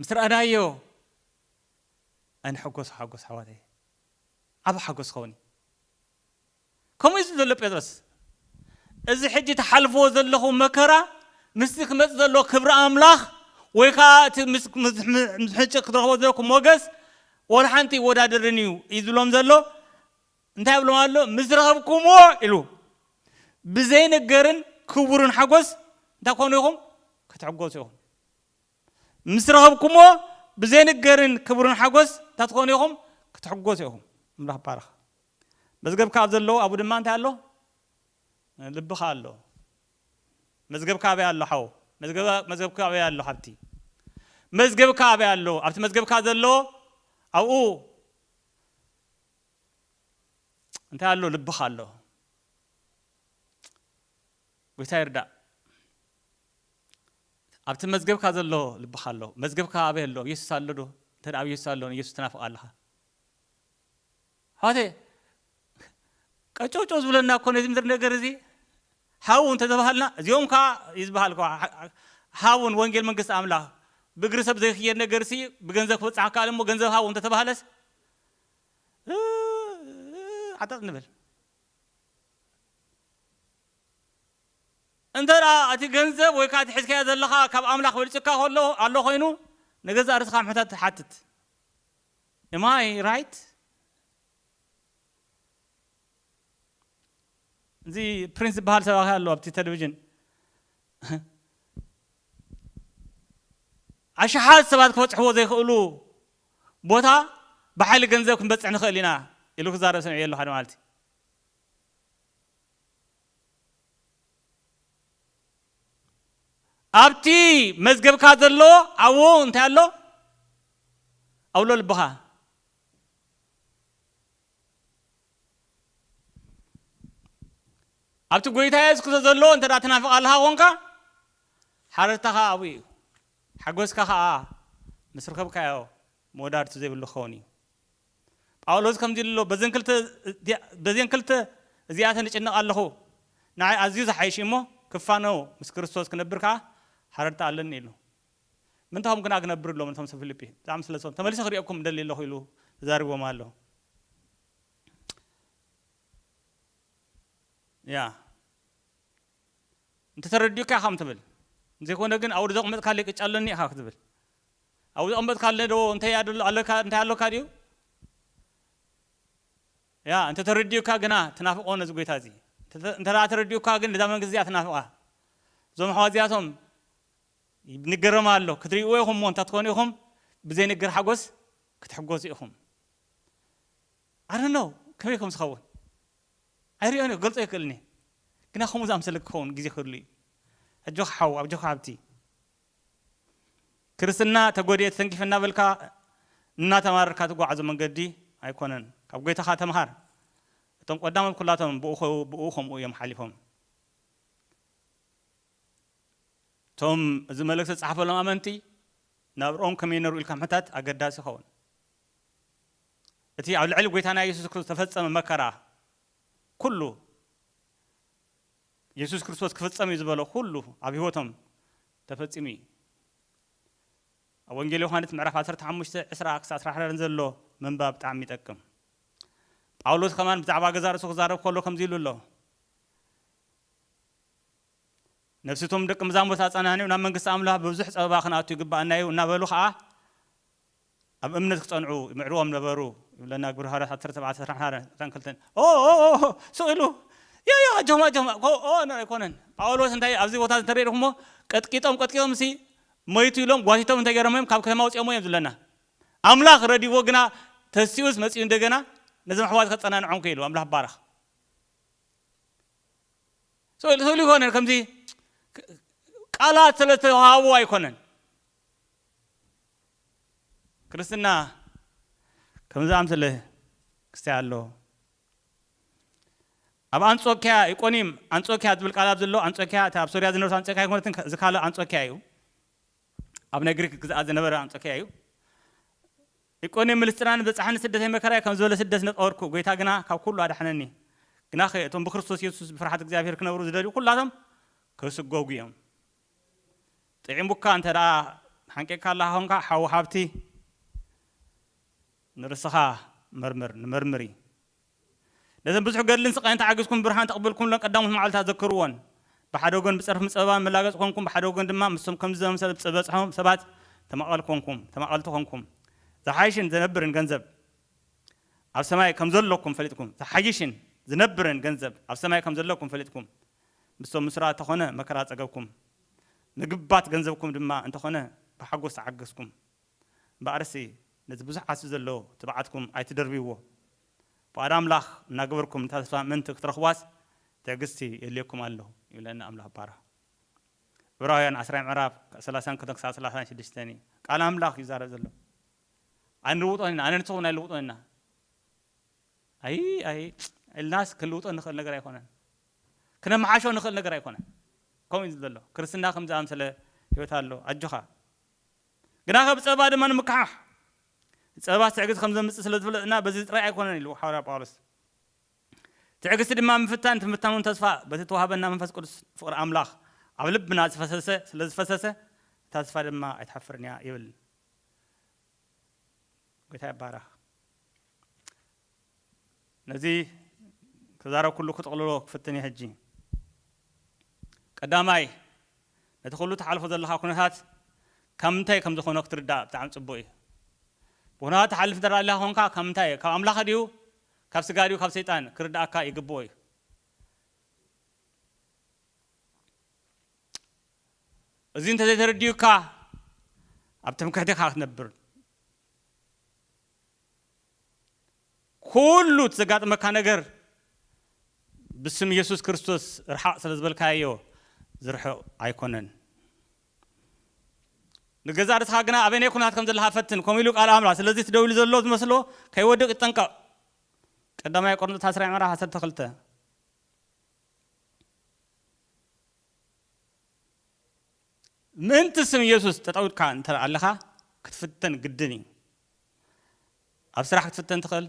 ምስ ረኣናዮ ኣይንሕጎሶ ሓጎስ ኣሕዋተየ ዓቢ ሓጎስ ክኸውን እዩ። ከምኡ እዩ ዝብል ዘሎ ጴጥሮስ እዚ ሕጂ ትሓልፍዎ ዘለኹም መከራ ምስቲ ክመጽእ ዘሎ ክብሪ ኣምላኽ ወይ ከዓ እቲ ምስ ሕጭ ክትረኽቦ ዘለኩም ሞገስ ወላ ሓንቲ ይወዳደርን እዩ እዩ ዝብሎም ዘሎ እንታይ ኣብሎም ኣሎ? ምስ ዝረኸብኩምዎ ኢሉ ብዘይንገርን ክቡርን ሓጎስ እንታይ ክትኮኑ ኢኹም? ክትሕጎሱ ኢኹም። ምስ ረኸብኩምዎ ብዘይንገርን ክቡርን ሓጎስ እንታይ ትኾኑ ኢኹም? ክትሕጎሱ ኢኹም። ኣምላኽ ይባረኽ። መዝገብካ ኣብ ዘለዉ ኣብኡ ድማ እንታይ ኣሎ? ልብኻ ኣሎ። መዝገብካ ኣበይ ኣሎ ሓው? መዝገብካ ኣበይ ኣሎ ሓብቲ? መዝገብካ ኣበይ ኣሎ? ኣብቲ መዝገብካ ዘሎ ኣብኡ እንታይ ኣሎ ልብኻ ኣሎ ጎይታ ይርዳእ ኣብቲ መዝገብካ ዘሎ ልብኻ ኣሎ መዝገብካ ኣበይ ኣሎ ኢየሱስ ኣሎ ዶ እንተ ኣብ ኢየሱስ ኣሎ ንኢየሱስ ትናፍቕ ኣለኻ ኣሕዋተይ ቀጨውጮ ዝብለና እኮ ነዚ ምድሪ ነገር እዚ ሓው እንተተባሃልና እዚኦም ከዓ እዩ ዝበሃል ሓውን ወንጌል መንግስቲ ኣምላኽ ብእግሪ ሰብ ዘይክየድ ነገር ሲ ብገንዘብ ክበፅሓካ እሞ ገንዘብ ሃው እንተተባሃለስ ዓጠጥ ንበል። እንተ እቲ ገንዘብ ወይ ከኣ እቲ ሕዝካዮ ዘለኻ ካብ ኣምላኽ በልጽካ ከሎ ኣሎ ኮይኑ ንገዛእ ርእስኻ ሕታት ሓትት Am I right? እዚ ፕሪንስ ዝበሃል ሰባኺ ኣሎ ኣብቲ ቴሌቪዥን ኣሽሓት ሰባት ክበጽሕዎ ዘይክእሉ ቦታ ብሓይሊ ገንዘብ ክንበጽሕ ንኽእል ኢና ኢሉ ክዛረብ ሰሚዐዮ ኣለኹ ሓደ መዓልቲ። ኣብቲ መዝገብካ ዘሎ ኣብኡ እንታይ ኣሎ? ኣብሎ ልብኻ። ኣብቲ ጎይታ የሱስ ክርስቶስ ዘሎ እንተ ትናፍቕ ኣለኻ ኾንካ ሓረርታኻ ኣብኡ እዩ። ሓጐስካ ኸኣ ምስ ረኸብካዮ መወዳድርቲ ዘይብሉ ክኸውን እዩ። ጳውሎስ ከምዚ ኢሉ ኣሎ፣ በዘን ክልተ እዚኣተን እጭነቕ ኣለኹ፣ ንዓይ ኣዝዩ ዝሓይሽ እዩ እሞ፣ ክፋኖ ምስ ክርስቶስ ክነብር ከኣ ሃረርታ ኣለኒ ኢሉ። ምእንቲ ኸምኡ ግና ክነብር እብሎም ነቶም ሰብ ፊልጲ፣ ብጣዕሚ ስለ ዝፈትዎም ተመሊሰ ክርእየኩም እደሊ ኣለኹ ኢሉ ተዛሪብዎም ኣሎ። ያ። እንተተረዲኡካ ኢኻ ትብል እንተዘይኮነ ግን ኣብኡ ዘቕመጥካለይ ቅጫ ኣሎኒ ኢኻ ክትብል ኣብኡ ዘቕመጥካለይ ዶ እንታይ ኣለካ እንታይ ኣሎካ ድዩ ያ እንተ ተረዲኡካ ግና ትናፍቆ ነዚ ጎይታ እዚ እንተ ተረዲኡካ ግን እዛ መንግስቲ እዚኣ ትናፍቃ እዞም ኣሕዋት እዚኣቶም ንገረማ ኣሎ ክትሪእዎ ኢኹም እሞ እንታትኮኑ ኢኹም ብዘይንግር ሓጎስ ክትሕጎሱ ኢኹም I don't know ከመይ ከም ዝኸውን ኣይሪኦን እየ ክገልጾ ኣይክእልን እየ ግና ከምኡ ዝኣምሰለ ክኸውን ግዜ ክህሉ እዩ ኣጆኻ ሓው ኣጆኻ ሓብቲ ክርስትና ተጎድኤ ተተንኪፈ እናበልካ እናተማረርካ ትጓዓዞ መንገዲ ኣይኮነን ካብ ጎይታኻ ተምሃር እቶም ቀዳሞት ኩላቶም ብኡ ብኡ ከምኡ እዮም ሓሊፎም እቶም እዚ መልእክቲ ዝጸሓፈሎም ኣመንቲ ናብርኦም ከመይ ነሩ ኢልካ ምሕታት ኣገዳሲ ይኸውን እቲ ኣብ ልዕሊ ጎይታና የሱስ ክርስቶስ ዝተፈጸመ መከራ ኩሉ የሱስ ክርስቶስ ክፍጸም እዩ ዝበሎ ኩሉ ኣብ ህይወቶም ተፈጺሙ እዩ። ኣብ ወንጌል ዮሃንስ ምዕራፍ 15 20 ክሳብ 24 ዘሎ ምንባብ ብጣዕሚ ይጠቅም። ጳውሎስ ከማን ብዛዕባ ገዛ ርእሱ ክዛረብ ከሎ ከምዚ ኢሉ ኣሎ ነፍሲቶም ደቂ መዛሙርት ኣጸናኒዑ ናብ መንግስቲ ኣምላኽ ብብዙሕ ጸበባ ክንኣቱ ይግባኣና እዩ እናበሉ ከዓ ኣብ እምነት ክጸንዑ ይምዕርዎም ነበሩ ይብለና ግብሪ ሃዋርያት ዓሰርተ ተባዕተ ዕስራን ሓደን ዕስራን ክልተን ኦኦኦኦ ስቕ ኢሉ ዮ ዮ ኣጆኹም ኣጆኹም ኦኦ እምበር ኣይኮነን ጳውሎስ እንታይ ኣብዚ ቦታ እዚ እንተሪእኹሞ ቀጥቂጦም ቀጥቂጦም ሲ መይቱ ኢሎም ጓቲቶም እንታይ ገይሮም እዮም ካብ ከተማ ኣውጺኦሞ እዮም ዝብለና ኣምላኽ ረዲዎ ግና ተሲኡስ መጺኡ እንደገና ነዞም ኣሕዋት ከጸናንዖም ክኢሉ ኣምላኽ ይባረኽ ስእሉ ስእሉ ይኮነን ከምዚ ቃላት ስለ ዝተዋሃቡ ኣይኮነን ክርስትና ከም ዝኣምሰለ ክስታይ ኣሎ። ኣብ ኣንጾኪያ፣ ኢቆኒም፣ ኣንጾኪያ ዝብል ቃል ኣብ ዘሎ ኣንጾኪያ እታ ኣብ ሶርያ ዝነበረት ኣንጾኪያ ኣይኮነትን እዚ ካልእ ኣንጾኪያ እዩ። ኣብ ናይ ግሪክ ግዝኣት ዝነበረ ኣንጾኪያ እዩ። ኢቆኒም ምልስጥራ ንበጻሕኒ ስደተይ መከራይ ከም ዝበለ ስደት ነጠወርኩ፣ ጎይታ ግና ካብ ኩሉ ኣድሓነኒ። ግናኸ እቶም ብክርስቶስ የሱስ ብፍርሓት እግዚኣብሄር ክነብሩ ዝደልዩ ኩላቶም ክስጎጉ እዮም። ጢዒሙካ እንተ ሓንቂቅካ ኣለኻ ኮንካ ሓው ሃብቲ ንርስኻ መርምር ንመርምሪ ነዘን ብዙሕ ገድልን ስቃይን ተዓጊስኩም ብርሃን ተቅብልኩምለን ቀዳሞት መዓልታት ዘክርዎን ብሓደ ወገን ብጸርፍን ጸበባን መላገጽ ኮንኩም ብሓደ ወገን ድማ ምስቶም ከምዚ ዘመሰለ ዝበጽሖም ሰባት ተማቀል ኮንኩም ተማቀልቲ ኮንኩም ዝሓይሽን ዘነብርን ገንዘብ ኣብ ሰማይ ከምዘለኩም ፈሊጥኩም ዝሓይሽን ዝነብርን ገንዘብ ኣብ ሰማይ ከምዘለኩም ፈሊጥኩም ምስቶም ምስራ እተኾነ መከራ ጸገብኩም፣ ምግባት ገንዘብኩም ድማ እንተኾነ ብሓጎስ ተዓገስኩም። እምበኣርሲ ነቲ ብዙሕ ዓስቢ ዘለዎ ትብዓትኩም ኣይትደርብይዎ። ፍቓድ ኣምላኽ እናገበርኩም ነታ ተስፋ ምእንቲ ክትረኽቧስ ትዕግስቲ የድልየኩም ኣሎ ይብለና ኣምላኽ ብባራኽ። ዕብራውያን ዓስራይ ምዕራፍ ካብ ሰላሳን ክልተን ክሳብ ሰላሳን ሽዱሽተን እዩ ቃል ኣምላኽ ይዛረብ ዘሎ። ኣይንልውጦን ኢና፣ ኣነ ንስኹም ኣይንልውጦን ኢና። ኣይ ኣይ እልናስ ክንልውጦ እንኽእል ነገር ኣይኮነን ክነምሓሾ እንኽእል ነገር ኣይኮነን ከምኡ እዩ ዘሎ ክርስትና ከምዚ ኣምሰለ ህይወት ኣሎ ኣጆኻ ግናኸ ብጸባ ድማ ንምክሓሕ ጸባ ትዕግስቲ ከም ዘምጽእ ስለ ዝፍለጥና በዚ ጥራይ ኣይኮነን ኢሉ ሓዋርያ ጳውሎስ ትዕግስቲ ድማ ምፍታን ትምታኑን ተስፋ በቲ ተዋህበና መንፈስ ቅዱስ ፍቕሪ ኣምላኽ ኣብ ልብና ዝፈሰሰ ስለ ዝፈሰሰ እታ ተስፋ ድማ ኣይትሓፍርን እያ ይብል ጎይታ ይባረኽ ነዚ ተዛረብኩሉ ክጥቕልሎ ክፍትን እየ ሕጂ። ቀዳማይ፣ ነቲ ኩሉ ትሓልፎ ዘለኻ ኩነታት ካብ ምንታይ ከም ዝኾነ ክትርዳእ ብጣዕሚ ጽቡቕ እዩ። ብኩነታት ትሓልፍ እንተ ኣሊኻ ኮንካ ካብ ምንታይ ካብ ኣምላኽ ድዩ ካብ ስጋ ድዩ ካብ ሰይጣን ክርድኣካ ይግብኦ እዩ። እዚ እንተ ዘይተረዲኡካ ኣብ ትምክሕቲ ኢኻ ክትነብር። ኩሉ እቲ ዘጋጥመካ ነገር ብስም የሱስ ክርስቶስ ርሓቕ ስለ ዝበልካዮ ዝርሕቕ ኣይኮነን። ንገዛእ ርእስኻ ግና ኣበየናይ ኩነታት ከም ዘለኻ ፈትን፣ ከምኡ ኢሉ ቃል ኣምላኽ። ስለዚ እቲ ደው ኢሉ ዘሎ ዝመስሎ ከይወድቕ ይጠንቀቕ። ቀዳማይ ቆርንጦስ ዓስራይ ምዕራፍ ዓሰርተ ክልተ ምእንቲ ስም የሱስ ጠጠው ኢልካ እንተ ኣለኻ ክትፍተን ግድን እዩ። ኣብ ስራሕ ክትፍተን ትኽእል፣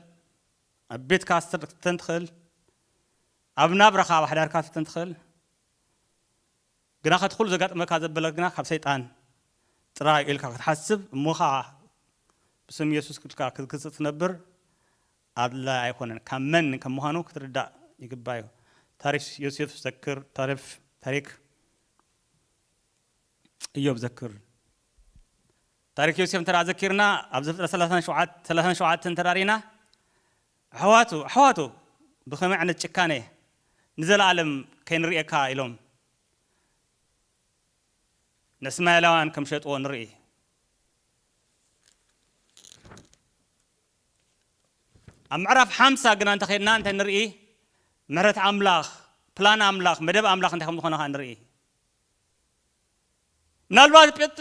ኣብ ቤትካ ክትፍተን ትኽእል፣ ኣብ ናብራኻ ኣብ ሓዳርካ ክትፍተን ትኽእል። ግናኸ እቲ ኩሉ ዘጋጥመካ ዘበለ ግና ካብ ሰይጣን ጥራይ እዩ ኢልካ ክትሓስብ እሞ ኸኣ ብስም የሱስ ክድካ ክትግስጽ ትነብር ኣድላይ ኣይኮነን። ካብ መን ከም ምዃኑ ክትርዳእ ይግባእ እዩ። ታሪፍ ዮሴፍ ዘክር ታሪፍ ታሪክ እዮብ ዘክር ታሪክ ዮሴፍ እንተ ዘኪርና ኣብ ዘፍጥረት ሰላሳን ሸውዓተን እንተ ርኢና ኣሕዋቱ ኣሕዋቱ ብኸመይ ዓይነት ጭካነ ንዘለኣለም ከይንርእየካ ኢሎም ንእስማኤላውያን ከም ሸጥዎ ንርኢ ኣብ ምዕራፍ ሓምሳ ግና እንተ ኼድና እንታይ ንርኢ? ምሕረት ኣምላኽ፣ ፕላን ኣምላኽ፣ መደብ ኣምላኽ እንታይ ከም ዝዀነ ኸኣ ንርኢ። ምናልባት ጴጥ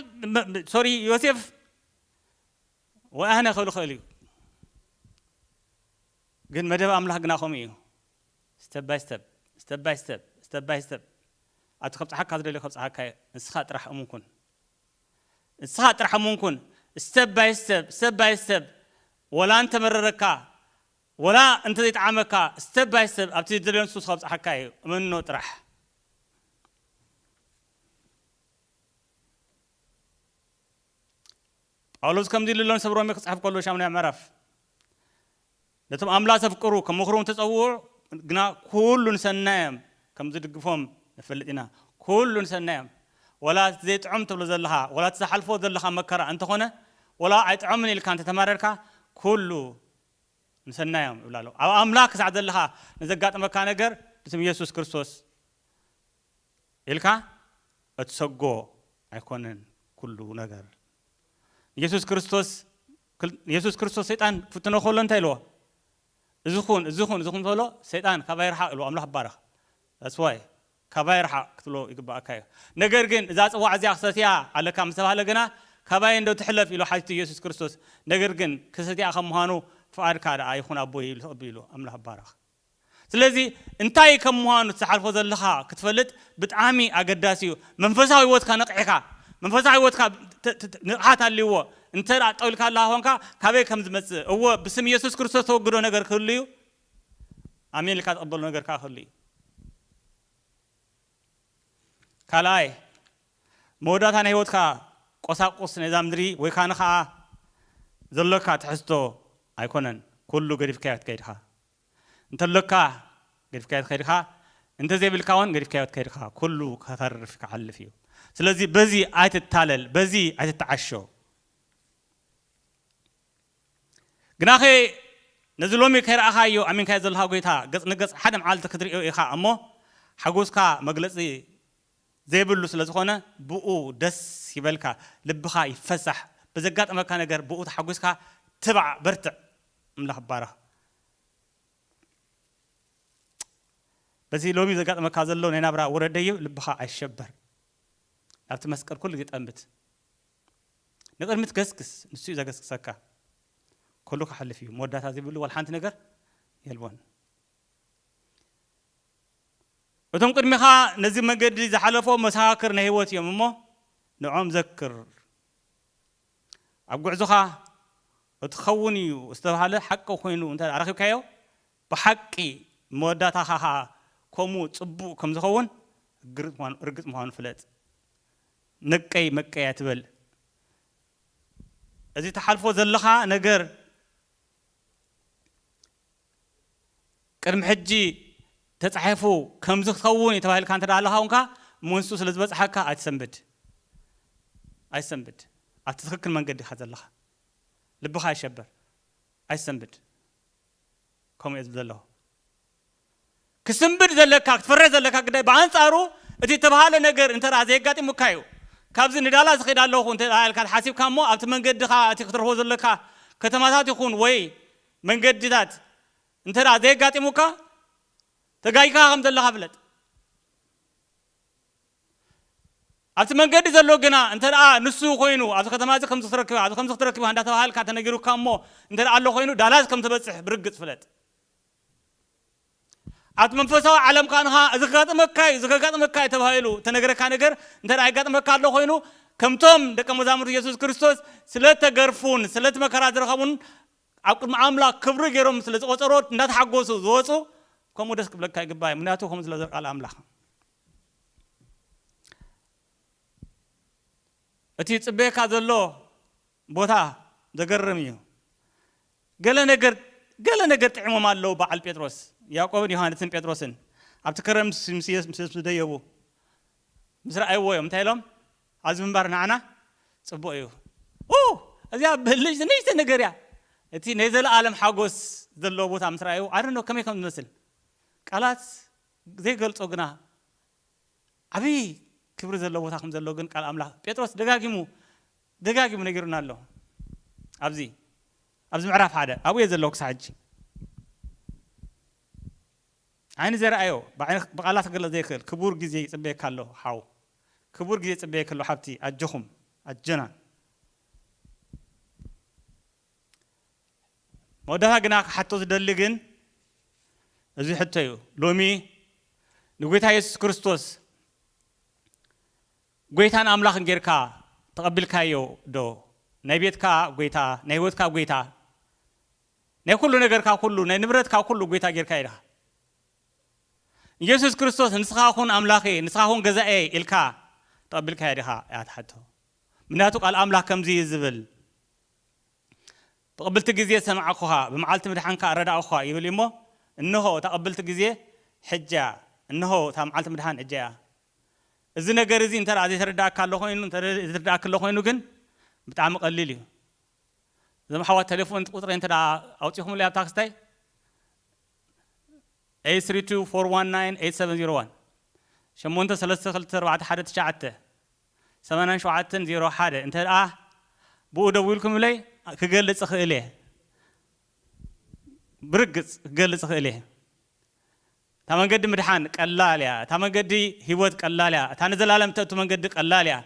ሶሪ ዮሴፍ ወይ ኣነ ክብል ይኽእል እዩ፣ ግን መደብ ኣምላኽ ግና ከምኡ እዩ። ስተብ ባይ ስተብ ስተብ ባይ ስተብ ስተብ ባይ ስተብ ኣብቲ ከብጽሓካ ዝደልዮ ከብጽሓካ እዩ። ንስኻ ጥራሕ እሙን ኩን። ንስኻ ጥራሕ እሙን ኩን step by step step by step ወላ እንተመረረካ ወላ እንተዘይጠዓመካ step by step ኣብቲ ዝደልዮ ንሱ ከብጽሓካ እዩ እመኖ ጥራሕ። ጳውሎስ ከምዚ ኢሉ ኣሎ ንሰብ ሮሜ ክጽሕፍ ከሎ ሻሙናይ ምዕራፍ ነቶም ኣምላኽ ዘፍቅሩ ከም ምኽሮም ዝተጸውዑ ግና ኩሉ ንሰናዮም ከም ዝድግፎም ንፈልጥ ኢና። ኩሉ ንሰናዮም። ወላ እቲ ዘይጥዑም ትብሎ ዘለኻ ወላ እቲ ዝሓልፎ ዘለኻ መከራ እንተ ኾነ ወላ ኣይጥዖምን ኢልካ እንተ ተማረርካ ኩሉ ንሰናዮም ይብላ ኣሎ። ኣብ ኣምላኽ ክሳዕ ዘለኻ ንዘጋጥመካ ነገር ብስም የሱስ ክርስቶስ ኢልካ እትሰጎ ኣይኮነን ኩሉ ነገር ንየሱስ ክርስቶስ ክል ንየሱስ ክርስቶስ ሰይጣን ክፍትኖ ከሎ እንታይ ኢልዎ እዚ ኩን እዚ ኩን እዚ ኩን በሎ ሰይጣን ካባይ ርሓቅ ኢልዎ ኣምላኽ ይባረኽ that's why ካባይ ርሓቅ ክትብሎ ይግባኣካ እዩ ነገር ግን እዛ ጽዋዕ እዚኣ ክሰትያ ኣለካ ምስ ተባህለ ግና ካባይ እንዶ ትሕለፍ ኢሉ ሓቲቱ የሱስ ክርስቶስ ነገር ግን ክሰትያ ከም ምዃኑ ፍቃድካ ደኣ ይኹን ኣቦይ ኢሉ ተቀቢሉ ኣምላኽ ይባረኽ። ስለዚ እንታይ ከም ምዃኑ እቲ ትሓልፎ ዘለኻ ክትፈልጥ ብጣዕሚ ኣገዳሲ እዩ። መንፈሳዊ ህይወትካ ነቒሕካ መንፈሳዊ ህይወትካ ንቕሓት ኣልዎ እንተ ጠው ኢልካ ኣለኻ ኮንካ ካበይ ከም ዝመጽእ እወ ብስም የሱስ ክርስቶስ ተወግዶ ነገር ክህሉ እዩ ኣሜን ኢልካ ትቕበሎ ነገር ከኣ ክህሉ እዩ። ካልኣይ፣ መወዳእታ ናይ ህይወትካ ቆሳቁስ ናይዛ ምድሪ ወይ ከኣ ንከኣ ዘሎካ ትሕዝቶ ኣይኮነን፣ ኩሉ ገዲፍካዮ ትከይድካ። እንተሎካ ገዲፍካዮ ትከይድካ፣ እንተዘይብልካ ውን ገዲፍካዮ ትከይድካ፣ ኩሉ ከተርፍ ክሓልፍ እዩ። ስለዚ በዚ ኣይትታለል፣ በዚ ኣይትተዓሾ። ግናኸ ነዚ ሎሚ ከይረኣኻዮ ኣሚንካዮ ዘለኻ ጐይታ ገጽ ንገጽ ሓደ መዓልቲ ክትርእዮ ኢኻ እሞ ሓጐስካ መግለጺ ዘይብሉ ስለ ዝኾነ ብእኡ ደስ ይበልካ ልብኻ ይፈሳሕ ብዘጋጠመካ ነገር ብእኡ ተሓጒስካ ትባዕ በርትዕ ኣምላኽ ይባረኽ በዚ ሎሚ ዘጋጠመካ ዘሎ ናይ ናብራ ውረደዩ ልብኻ ኣይሸበር ናብቲ መስቀል ኩሉ ግዜ ጠምት ንቅድሚት ገስግስ ንሱ እዩ ዘገስግሰካ ኩሉ ክሓልፍ እዩ መወዳእታ ዘይብሉ ዋላ ሓንቲ ነገር የልቦን እቶም ቅድሚኻ ነዚ መገዲ ዝሓለፎ መሰኻክር ናይ ህይወት እዮም እሞ ንዖም ዘክር ኣብ ጉዕዞኻ እቲ ክኸውን እዩ ዝተባሃለ ሓቂ ኮይኑ እንተ ኣረኪብካዮ ብሓቂ መወዳእታኻ ከዓ ከምኡ ፅቡቅ ከም ዝኸውን ርግፅ ምዃኑ ፍለጥ ነቀይ መቀይ ኣይትበል እዚ ትሓልፎ ዘለኻ ነገር ቅድሚ ሕጂ ተጻሒፉ ከምዚ ክኸውን እዩ ተባሂልካ እንተ ኣለኻ ውንካ መንሱ ስለ ዝበጽሓካ ኣይትሰንብድ ኣይትሰንብድ ኣብቲ ትክክል መንገዲ ኢኻ ዘለኻ ልብኻ ኣይሸበር ኣይትሰንብድ ከምኡ እየ ዝብል ዘለኹ ክስንብድ ዘለካ ክትፈርሕ ዘለካ ግዳይ ብኣንጻሩ እቲ እተባህለ ነገር እንተ ዘየጋጢሙካ እዩ። ካብዚ ንዳላስ እኸይድ ኣለኹ እንተ ኢልካ ተሓሲብካ እሞ ኣብቲ መንገድኻ እቲ ክትረኽቦ ዘለካ ከተማታት ይኹን ወይ መንገድታት እንተ ዘየጋጢሙካ ተጋጊኻ ከም ዘለኻ ፍለጥ። ኣብቲ መንገዲ ዘሎ ግና እንተ ንሱ ኮይኑ ኣብዚ ከተማ እዚ ከምዚ ክትረክብ ኣብዚ ከምዚ ክትረክብ እንዳ ተባሃልካ ተነጊሩካ እሞ እንተ ኣሎ ኮይኑ ዳላስ ከም ትበጽሕ ብርግጽ ፍለጥ። ኣብቲ መንፈሳዊ ዓለም ኳንኻ እዚ ከጋጥመካ እዩ እዚ ከጋጥመካ እዩ ተባሂሉ እተነገረካ ነገር እንተ የጋጥመካ ኣሎ ኮይኑ ከምቶም ደቀ መዛሙርቲ የሱስ ክርስቶስ ስለ እተገርፉን ስለ እቲ መከራ ዝረኸቡን ኣብ ቅድሚ ኣምላኽ ክብሪ ገይሮም ስለ ዝቖጸሮ እንዳተሓጎሱ ዝወጹ ከምኡ ደስ ክብለካ ይግባእ እዩ ምክንያቱ ከምኡ ስለ ቃል ኣምላኽ እቲ ጽበየካ ዘሎ ቦታ ዘገርም እዩ ገለ ነገር ገለ ነገር ጥዒሞም ኣለዉ በዓል ጴጥሮስ ያእቆብን ዮሃንስን ጴጥሮስን ኣብቲ ከረን ምስ ምስ ኢየሱስ ምስ ምስ ደየቡ ምስ ረኣይዎ እዮም እንታይ ኢሎም ኣብዚ ምንባር ንዓና ጽቡቕ እዩ ኡ እዚኣ ብልጭቲ ንእሽተ ነገር እያ እቲ ናይ ዘለኣለም ሓጎስ ዘለዎ ቦታ ምስ ረኣዩ ኣይ ዶንት ኖ ከመይ ከም ዝመስል ቃላት ዘይገልጾ ግና ዓብዪ ክብሪ ዘለዎ ቦታ ከም ዘሎ ግን ቃል ኣምላኽ ጴጥሮስ ደጋጊሙ ደጋጊሙ ነጊሩና ኣሎ ኣብዚ ኣብዚ ምዕራፍ ሓደ ኣብኡ እየ ዘለኩ ክሳዕ ሕጂ ዓይኒ ዘይረኣዮ ብቃላት ክግለጽ ዘይክእል ክቡር ግዜ ይጽበየካ ኣሎ ሓው ክቡር ግዜ ይጽበየኪ ኣሎ ሓብቲ ኣጆኹም ኣጆና መወዳእታ ግና ክሓቶ ዝደሊ ግን እዚ ሕቶ እዩ ሎሚ ንጎይታ የሱስ ክርስቶስ ጎይታን ኣምላኽን ጌርካ ተቐቢልካዮ ዶ? ናይ ቤትካ ጎይታ፣ ናይ ህይወትካ ጎይታ፣ ናይ ኩሉ ነገርካ ኩሉ፣ ናይ ንብረትካ ኩሉ ጎይታ ጌርካዮ ዲኻ? ንየሱስ ክርስቶስ ንስኻ ኩን ኣምላኽይ፣ ንስኻ ኩን ገዛኤይ ኢልካ ተቐቢልካዮ ዲኻ? እያ እታ ሕቶ። ምክንያቱ ቃል ኣምላኽ ከምዚ እዩ ዝብል፣ ብቕብልቲ ግዜ ዝሰማዕኩኻ፣ ብመዓልቲ ምድሓንካ ኣረዳእኩኻ ይብል እዩሞ፣ እንሆ እታ ቅብልቲ ግዜ ሕጂ እያ፣ እንሆ እታ መዓልቲ ምድሓን ሕጂ እያ። እዚ ነገር እዚ እንተ ዘይተረድኣካ ኣሎ ኮይኑ እንተ ዝርድኣኪ ኣሎ ኮይኑ ግን ብጣዕሚ ቀሊል እዩ እዞም ኣሕዋት ተሌፎን ቁጽረይ እንተ ኣውጺኹምለይ ኣብ ታክስታይ 8324198701 ሸሞንተ ሰለስተ ክልተ ኣርባዕተ ሓደ ትሽዓተ ሰማንያን ሸውዓተን ዜሮ ሓደ እንተ ብኡ ደዊልኩምለይ ክገልጽ እኽእል እየ ብርግጽ ክገልጽ እኽእል እየ እታ መንገዲ ምድሓን ቀላል እያ እታ መንገዲ ሂወት ቀላል እያ እታ ንዘላለም እተእቱ መንገዲ ቀላል እያ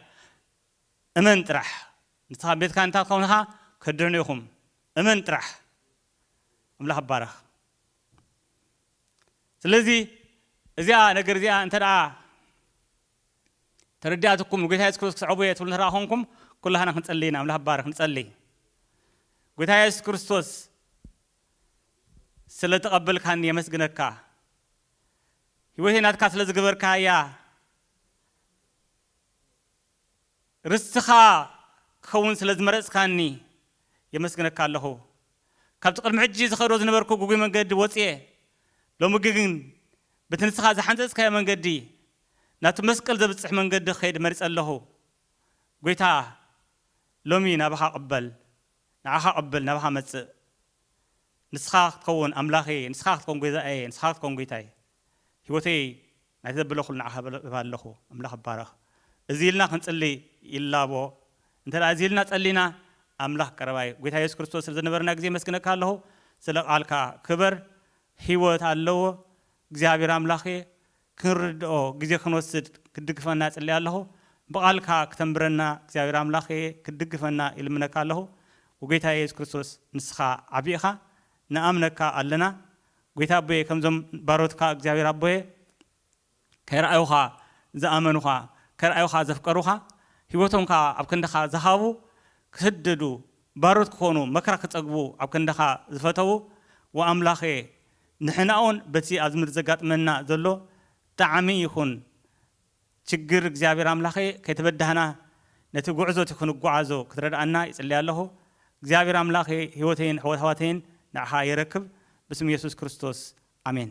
እመን ጥራሕ ንስኻን ቤትካን እንታ ትኸውን እኻ ከድሕኑ ኢኹም እመን ጥራሕ ኣምላኽ ይባረኽ ስለዚ እዚኣ ነገር እዚኣ እንተ ደኣ ተረዲኣትኩም ንጎይታ የሱስ ክርስቶስ ክስዕቡ እየ ትብሉ እንተ ደኣ ኮንኩም ኩላህና ክንጸልይ ኢና ኣምላኽ ይባረኽ ንጸልይ ጎይታ የሱስ ክርስቶስ ስለ ተቀበልካኒ የመስግነካ ሂወተይ ናትካ ስለ ዝገበርካያ ርስትኻ ክኸውን ስለ ዝመረጽካኒ የመስግነካ ኣለኹ ካብቲ ቅድሚ ሕጂ ዝኸዶ ዝነበርኩ ግጉይ መንገዲ ወጽየ ሎሚ ግን በቲ ንስኻ ዝሓንጸጽካዮ መንገዲ ናብቲ መስቀል ዘብጽሕ መንገዲ ክኸይድ መሪጸ ኣለኹ ጎይታ ሎሚ ናባኻ እቅበል ንዓኻ ቅብል ናባኻ መጽእ ንስኻ ክትከውን ኣምላኸይ ንስኻ ክትከውን ጐይዛኣየ ንስኻ ክትከውን ጐይታይ ሕይወተይ ናይቲ ዘበለኩሉ ንዓኻ እህብ ኣለኹ ኣምላኽ ይባረኽ እዚ ኢልና ክንጽሊ ይላቦ እንተ እዚ ኢልና ጸሊና ኣምላኽ ቀረባዩ ጐይታ የሱስ ክርስቶስ ስለ ዝነበረና ግዜ የመስግነካ ኣለኹ ስለ ቃልካ ክበር ሕይወት ኣለዎ እግዚኣብሔር ኣምላኽየ ክንርድኦ ግዜ ክንወስድ ክትድግፈና እጽሊ ኣለኹ ብቃልካ ክተንብረና እግዚኣብሔር ኣምላክየ ክትድግፈና ይልምነካ ኣለኹ ጎይታየ የሱስ ክርስቶስ ንስኻ ዓቢ ኢኻ ንኣምነካ ኣለና ጎይታ ኣቦየ ከምዞም ባሮትካ እግዚኣብሔር ኣቦየ ከይረኣዩኻ ዝኣመኑኻ ከይረኣዩኻ ዘፍቀሩኻ ሂወቶም ከኣ ኣብ ክንድኻ ዝሃቡ ክስደዱ ባሮት ክኾኑ መከራ ክጸግቡ ኣብ ክንድኻ ዝፈተዉ ወኣምላክየ ንሕና'ውን በቲ ኣብዚ ምድሪ ዘጋጥመና ዘሎ ጠዓሚ ይኹን ችግር እግዚኣብሔር ኣምላኸ ከይተበዳህና ነቲ ጉዕዞ እቲ ክንጓዓዞ ክትረድኣና ይጽሊ ኣለኹ። እግዚኣብሔር ኣምላኸ ሕይወተይን ሕይወት ኣሕዋተይን ንዓኻ የረክብ ብስም ኢየሱስ ክርስቶስ ኣሜን።